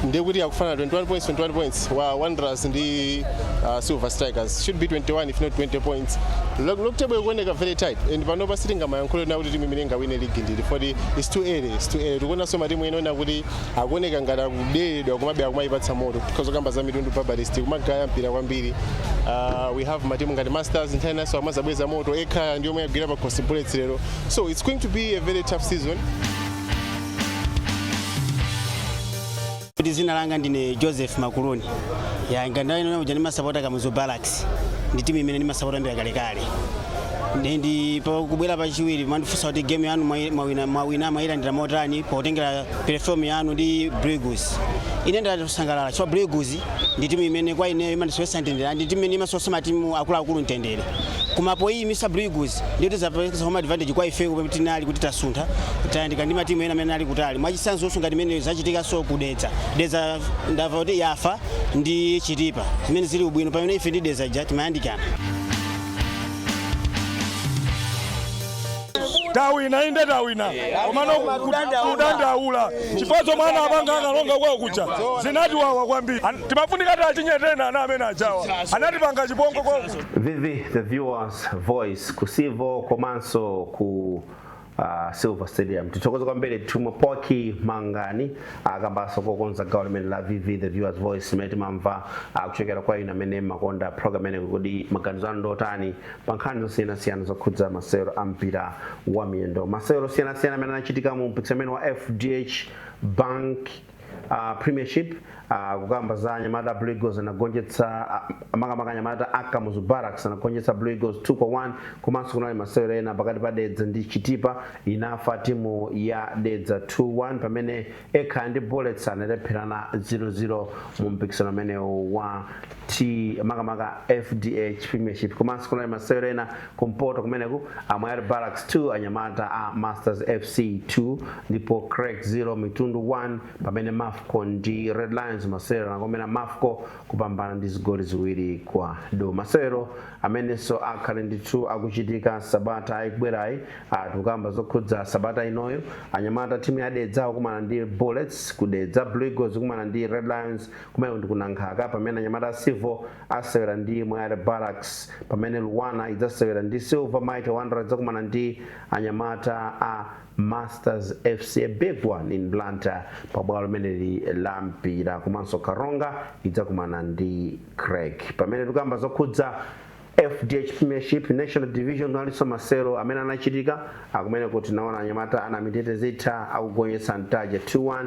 ndiye kuti akufanana 21 points 21 points wa Wanderers ndi uh, Silver Strikers should be 21 if not 20 points Log- log table ikuoneka very tight and panopa sitingamayankhule na kuti timu imene ingawine ligi ndili for it's too early it's too early tikuonanso matimu ena ona kuti akuoneka ngati akuderedwa komabe akumaipatsa moto tikhoza kukamba za Mitundu Baptist ikumagaya mpira kwambiri uh, we have matimu ngati masters nthawi zinanso amazabweretsa moto Ekhaya ndi yomwe yagwira pakhosi bullets lero so it's going to be a very tough season kuti zina langa ndine joseph makuluni ya ngandalina uja ndimasapota kamuzu barracks ndi timu imene ndimasapota kuyambira kalekale ndi ndi pa- kubwera pachiwiri mwandifunsa kuti game yanu mwayi- mwawina mwawina mwayilandira motani potengera perform yanu ndi Blue Eagles ine ndatosangalala chifukwa Blue Eagles ndi timu imene kwa ineyo imandisowesa mtendere ndi timu imene imasowesa matimu akuluakulu mtendere koma poyimitsa Blue Eagles ndiye kuti zapeleka home advantage kwa ife kuti tinali kuti tasuntha tayandikana ndi matimu ena amene ali kutali mwachitsanzo ngati imene zachitikanso ku Dedza Dedza ndava kuti yafa ndi Chitipa zimene zili ubwino pamene ife ndi Dedza ja timayandikana tawina inde tawina komano kudandaula chifukwa chomwe ana apanga a Karonga kwawo kuja zinatiwawa kwambiri An- timafunika tachinya ten ana amene ajawa anatipanga chipongwe kwawo VV the viewers voice ku Civo komanso ku uh, Silver Stadium. Tithokoza kwambiri Tumwa Poki Mangani kambanso kokonza gawo limene la VV the viewers voice limene timamva uh, kuchokera kwa inu amene mumakonda program imeneyi kuti maganizo anu ndotani pa nkhani zosiyanasiyana zokhudza masewero a mpira wa miyendo. Masewero osiyanasiyana amene anachitika mu mpikisano wa FDH Bank uh, premiership uh, kukamba za anyamata blue eagles anagonjetsa uh, makamaka anyamata a kamuzu barracks anagonjetsa blue eagles 2 kwa 1 komanso kunali masewero ena pakati pa dedza ndi chitipa inafa timu ya dedza 2-1 pamene ekhaya ndi bullets analepherana 0-0 mu mpikisano umenewu wa t makamaka fdh premiership komanso kunali masewero ena kumpoto kumeneku a moyale barracks 2 anyamata a masters fc 2 ndipo creck 0 mitundu 1 pamene mafco ndi red lions masewero anakomera mafco kupambana ndi zigoli ziwiri kwa du masewero amenenso akhale ndithu akuchitika sabata ikubwerayi tukamba zokhudza sabata inoyo anyamata timu ya dedza akumana ndi bullets ku dedza blue eagles kumana ndi red lions kumene ndi ku nankhaka pamene anyamata a civil asewera ndi Moyale Barracks pamene Luanar idzasewera ndi Silver Mighty Wanderers idzakumana ndi anyamata a Masters FC a big one in Blantyre pa bwalo limeneli la mpira komanso Karonga idzakumana ndi Creck pamene tikukamba zokhudza FDH Premiership National Division kunalinso masewero amene anachitika kumeneku tinaona anyamata a Namitete Zitha akugonjetsa Ntaja 2-1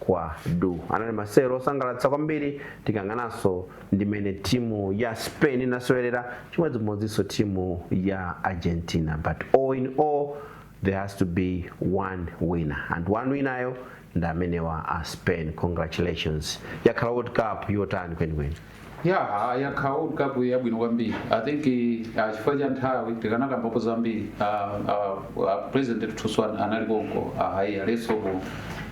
kwa du anali masewero osangalatsa kwambiri tikang'ananso ndi mene timu ya spain inasewerera chimodzimodzinso timu ya argentina but all in all there has to be one winner and one winner yo ndi amenewa a spain congratulations yakhala world cup yotani kwenikweni Yeah, yakhala world cup yabwino kwambiri i think uh, chifukwa cha nthawi tikanakambapo zambiri uh, uh, uh, president athunso an- anali konko uh, ayi alinso ku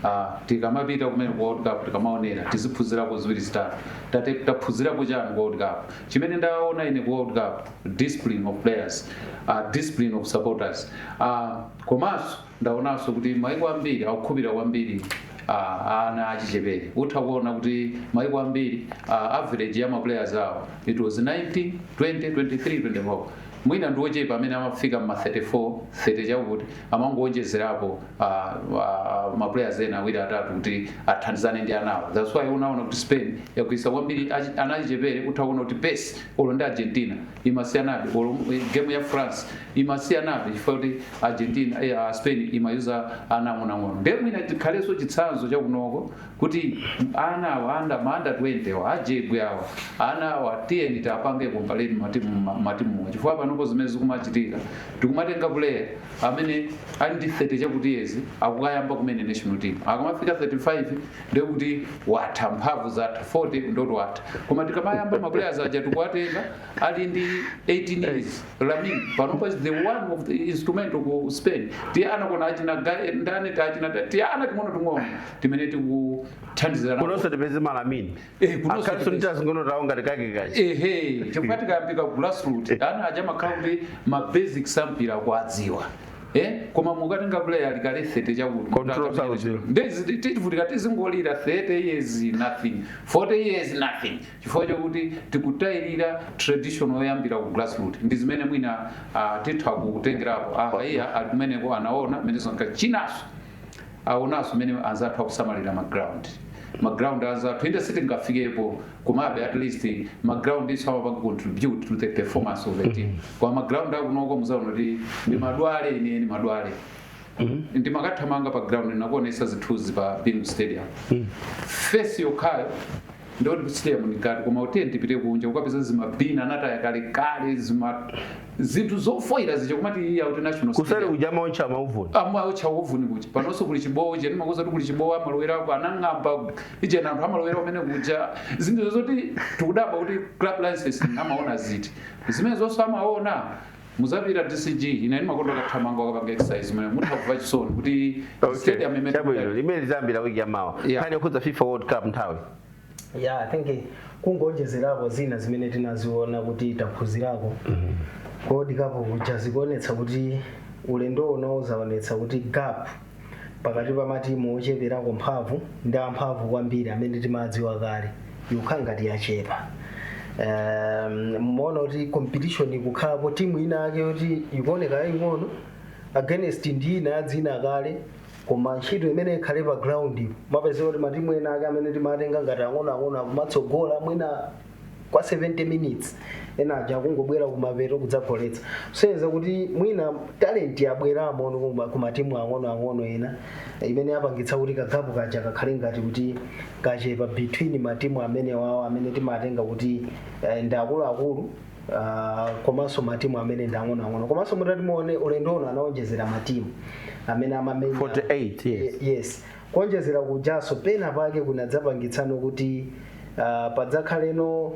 uh, tikamapita kumene ku world cup tikamaonera tiziphunzirako ziwiri zitatu tate taphunzirako chani ku world cup chimene ndaona ine ku world cup discipline of players uh, discipline of supporters uh, komanso Ndaonanso kuti maiko ambiri akukhupira kwambiri a ana achichepere. Utha kuona kuti maiko ambiri a average ya ma players awo it was 19, 20, 23, 24. Mwina ndi ochepa amene amafika mma 34, 30 chakuti amangoonjezerapo uh, uh, ma players ena awiri atatu kuti athandizane ndi anawo. That's why unaona kuti Spain yagwiritsa kwambiri achi- ana achichepere utha kuona kuti pace olo ndi Argentina imasiyanabe olo game ya France imasiyanabe chifukwa kuti Argentina eh, ah, Spain imayuza ana ang'onoang'ono ndiye mwina tikhalenso chitsanzo chakunoko kuti ana awa under ma under 20 awa a Jegwe awa ana awa tiyeni tiapange kompareni matimu ma- matimuwa chifukwa panopo zimene zikumachitika tikumatenga player amene ali ndi 30 chakuti years akukayamba kumene national team akamafika 35 ndiye kuti watha mphamvu zatha 40 ndiye kuti watha koma tikamayamba maplayers aja tikuwatenga ali ndi 18 years Lamine panopa is one of the instrumental ku spain tiana taona achina Ga- ndani tachina tiana ting'ono ting'ono timene tikuthandizira nawo. kunonso tipeze ma Lamine Eh, kunonso akhalinso tipeze. tating'ono tawo ngati kake kachi ehe chifukwa tikayambira ku grassroot ana aja makhala kuti ma basics a mpira akuadziwa Eh? koma mukatenga player ali kale 30 chakuti Control sauziwa. tizivutika tizingolira 30 years nothing 40 years nothing chifukwa chakuti tikutayirira tradition yoyambira ku grassroot ndi zimene mwina ah, titha kutengerapo ah, iye ali kumeneko anaona mmene zoneka chinanso aonanso mmene anzathu akusamalira ma ground ma ground anzathu inde sitingafikepo komabe at least ma ground nso amapanga contribute to the performance of the team koma ma ground akunoko muzaona kuti ndi madwale ine ni madwale ndimakathamanga pa ground nakuonesa zithunzi pa Bingu stadium face yokhayo Ndiyo tikusiya mkati koma uteni tipite kunja kukapeza zimabina anataya kalekale zima zinthu zofoira zija kumati iya kuti national kuseri stadium. kuja amaotcha mauvuni amaotcha uvuni kuja panonso kuli chibowo cheni ndimakuuza kuti kuli chibowo amalowerapo anang'amba ichena anthu amalowera mmene muja zinthu zoti tikudabwa kuti club license amaona ziti zimene zonse amaona muzapita this is ine ndimakonda kathamanga ndikapanga exercise mwe mutha kuva chisoni kuti stadium imene chabwino limene litayambira wiki ya mawa Yeah. nkhani yokhudza fifa world cup nthawi ya i think kungonjezerako zina zimene tinaziona kuti taphunzirako ku World Cup kuja zikuonetsa kuti ulendo uno uzaonetsa kuti gap pakati pa matimu ocheperako mphamvu ndi amphamvu kwambiri amene timadziwa kale yakhala ngati yachepa um, mumaona kuti competition ikukhalapo timu ina yake yoti ikuoneka yaying'ono against ndi ina ya dzina kale koma ntchito imene ikukhala pa ground mapezeka kuti matimu ena ake amene timatenga ngati ang'onoang'ono akumatsogola mwina kwa 70 minutes ena aja akungobwera kumapeto kudzagoletsa kusonyeza kuti mwina talent yabweramo no kuma- ku matimu ang'onoang'ono ena eh, imene yapangitsa kuti kagap kaja kakhale ngati kuti kachepa between matimu amene wawo amene timatenga kuti eh, ndi akuluakulu ah, komanso matimu amene ndi ang'onoang'ono komanso mutati muone ulendo uno anaonjezera matimu amene amamenya 48 yes Ye- yes Kuonjezera kujanso pena pake kunadzapangitsano kuti uh, padzakhaleno uh,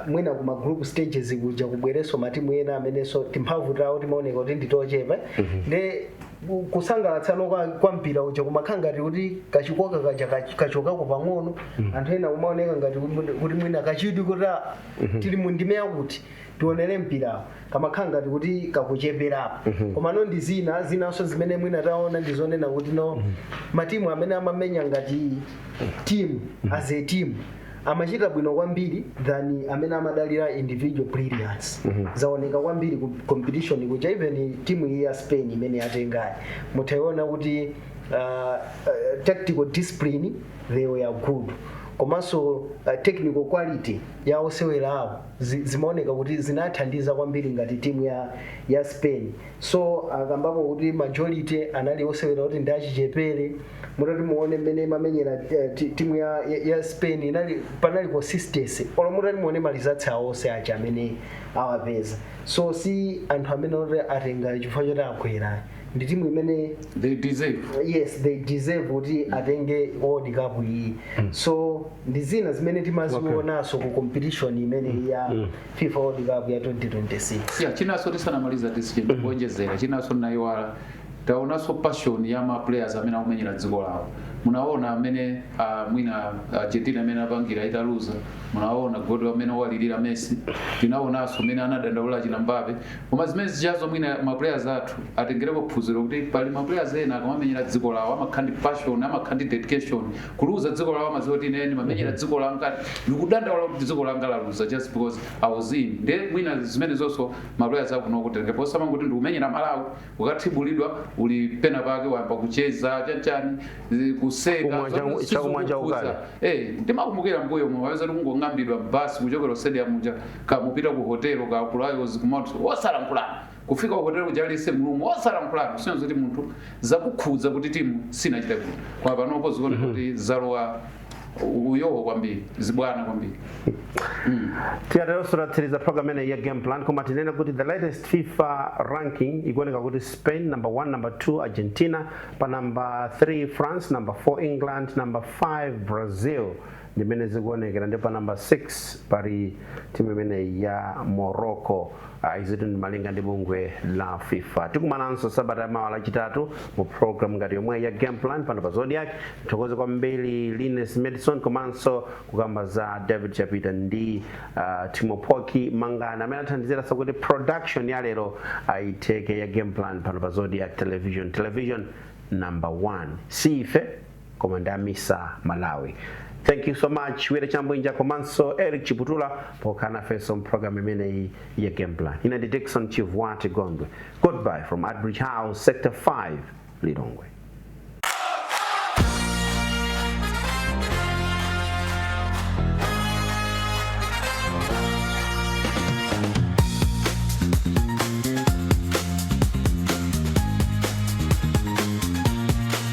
mwina kuma group stages kuja kubwerenso matimu ena amenenso timphamvu tawo timaoneka kuti nditochepa mm -hmm. nde kusangalatsano kwa, kwa mpira uja kumakhala ngati kuti kachikoka kaja kach- kachokako pang'ono anthu ena kumaoneka ngati kuti kuti mwina kachidwi kuti ah, tili mu ndime yakuti tionere mpirawo kamakhala ngati kuti kakucheperapo komano ndi zina zinanso zimene mwina taona ndi zonena zakuti no matimu amene amamenya ngati timu as a team amachita bwino kwambiri than amene amadalira individual brilliance zaoneka kwambiri ku competition kuja even timu iyi ya spain imene yatengayi mutaiona kuti uh, uh, tactical discipline they were good komanso uh, technical quality ya osewera awo zi, zimaoneka kuti zinathandiza kwambiri ngati timu ya, ya spain so akambapo kuti majority anali osewera kuti ndi achichepere mutati muone mmene imamenyera eh, ti- timu ya, ya, ya spain inali panali consistency olo mutati muone ma results awo onse aja amene awapeza so si anthu amene oti atenga chifukwa choti agwera ndi timu imene they deserve yes they deserve kuti atenge world cup iyi so ndi zina zimene timazionaso ku competition imeneyi ya fifa world cup ya 2026 ya chinaso tisanamalize tisikeni kuonjezera chinaso ndayiwala taonaso passion ya ma players amene akumenyera dziko lawo munaona mmene uh, mwina argentina mmene anapangira italuza munaona kodi mmene analilira messi tinaonaso mmene anadandaulira chinambabe Koma zimene zijazo mwina ma players athu atengereko phunziro kuti pali ma players ena akamamenyera dziko lawo amakhala ndi passion, amakhala ndi dedication. Kuluza dziko lawo amadziwa kuti ine ndimamenyera dziko langa, ndikudandaula kuti dziko langa laluza just because I was in. Nde mwina zimene zonso ma players akunoko atenge posamangoti ndikumenyera Malawi, ukathibulidwa uli pena pake wayamba kucheza chanchani zi- kuseka Kumwa changu- zonse chakumwa sizikukhudza. chakukala. Eh, ndimakumbukira mbuyomu kungong'ambidwa basi kuchokera stadium muja kumapita ku hotelo ka kulayozi kumatu osalankhulana kufika ku hotelo kuja aliyense mu room osalankhulana kusonyeza zoti munthu zakukhudza kuti timu sinachita bwino koma panopo zikuoneka kuti zalowa uyowo kwambiri zibwana kwambiri tikatero ndiye tatsiriza program imeneyi ya game plan koma tinene kuti the latest fifa ranking ikuoneka kuti spain number 1 number 2 argentina pa number 3 france number 4 england number 5 brazil Ndi mmene zikuonekera ndi pa number 6 pali timu imeneyi ya Morocco. Ah, izitu ndi malinga ndi bungwe la FIFA. Tikumananso sabata ya mawa lachitatu mu program ngati yomweyi ya game plan pano pa Zodiak. Tithokoze kwambiri Linus Madison komanso kukamba za David Chapita ndi ah, Timo Poki Mangani amene athandizira kuti production ya lero itheke ya game plan pano pa Zodiak Television. Television number 1. Si ife koma ndamisa malawi thank you so much wira chabwinja komanso eric chiputula pokhala nafenso mpulogalamu imeneyi ya game plan ine ndi dickson chivwati gondwe goodbye from adbridge house sector 5 lilongwe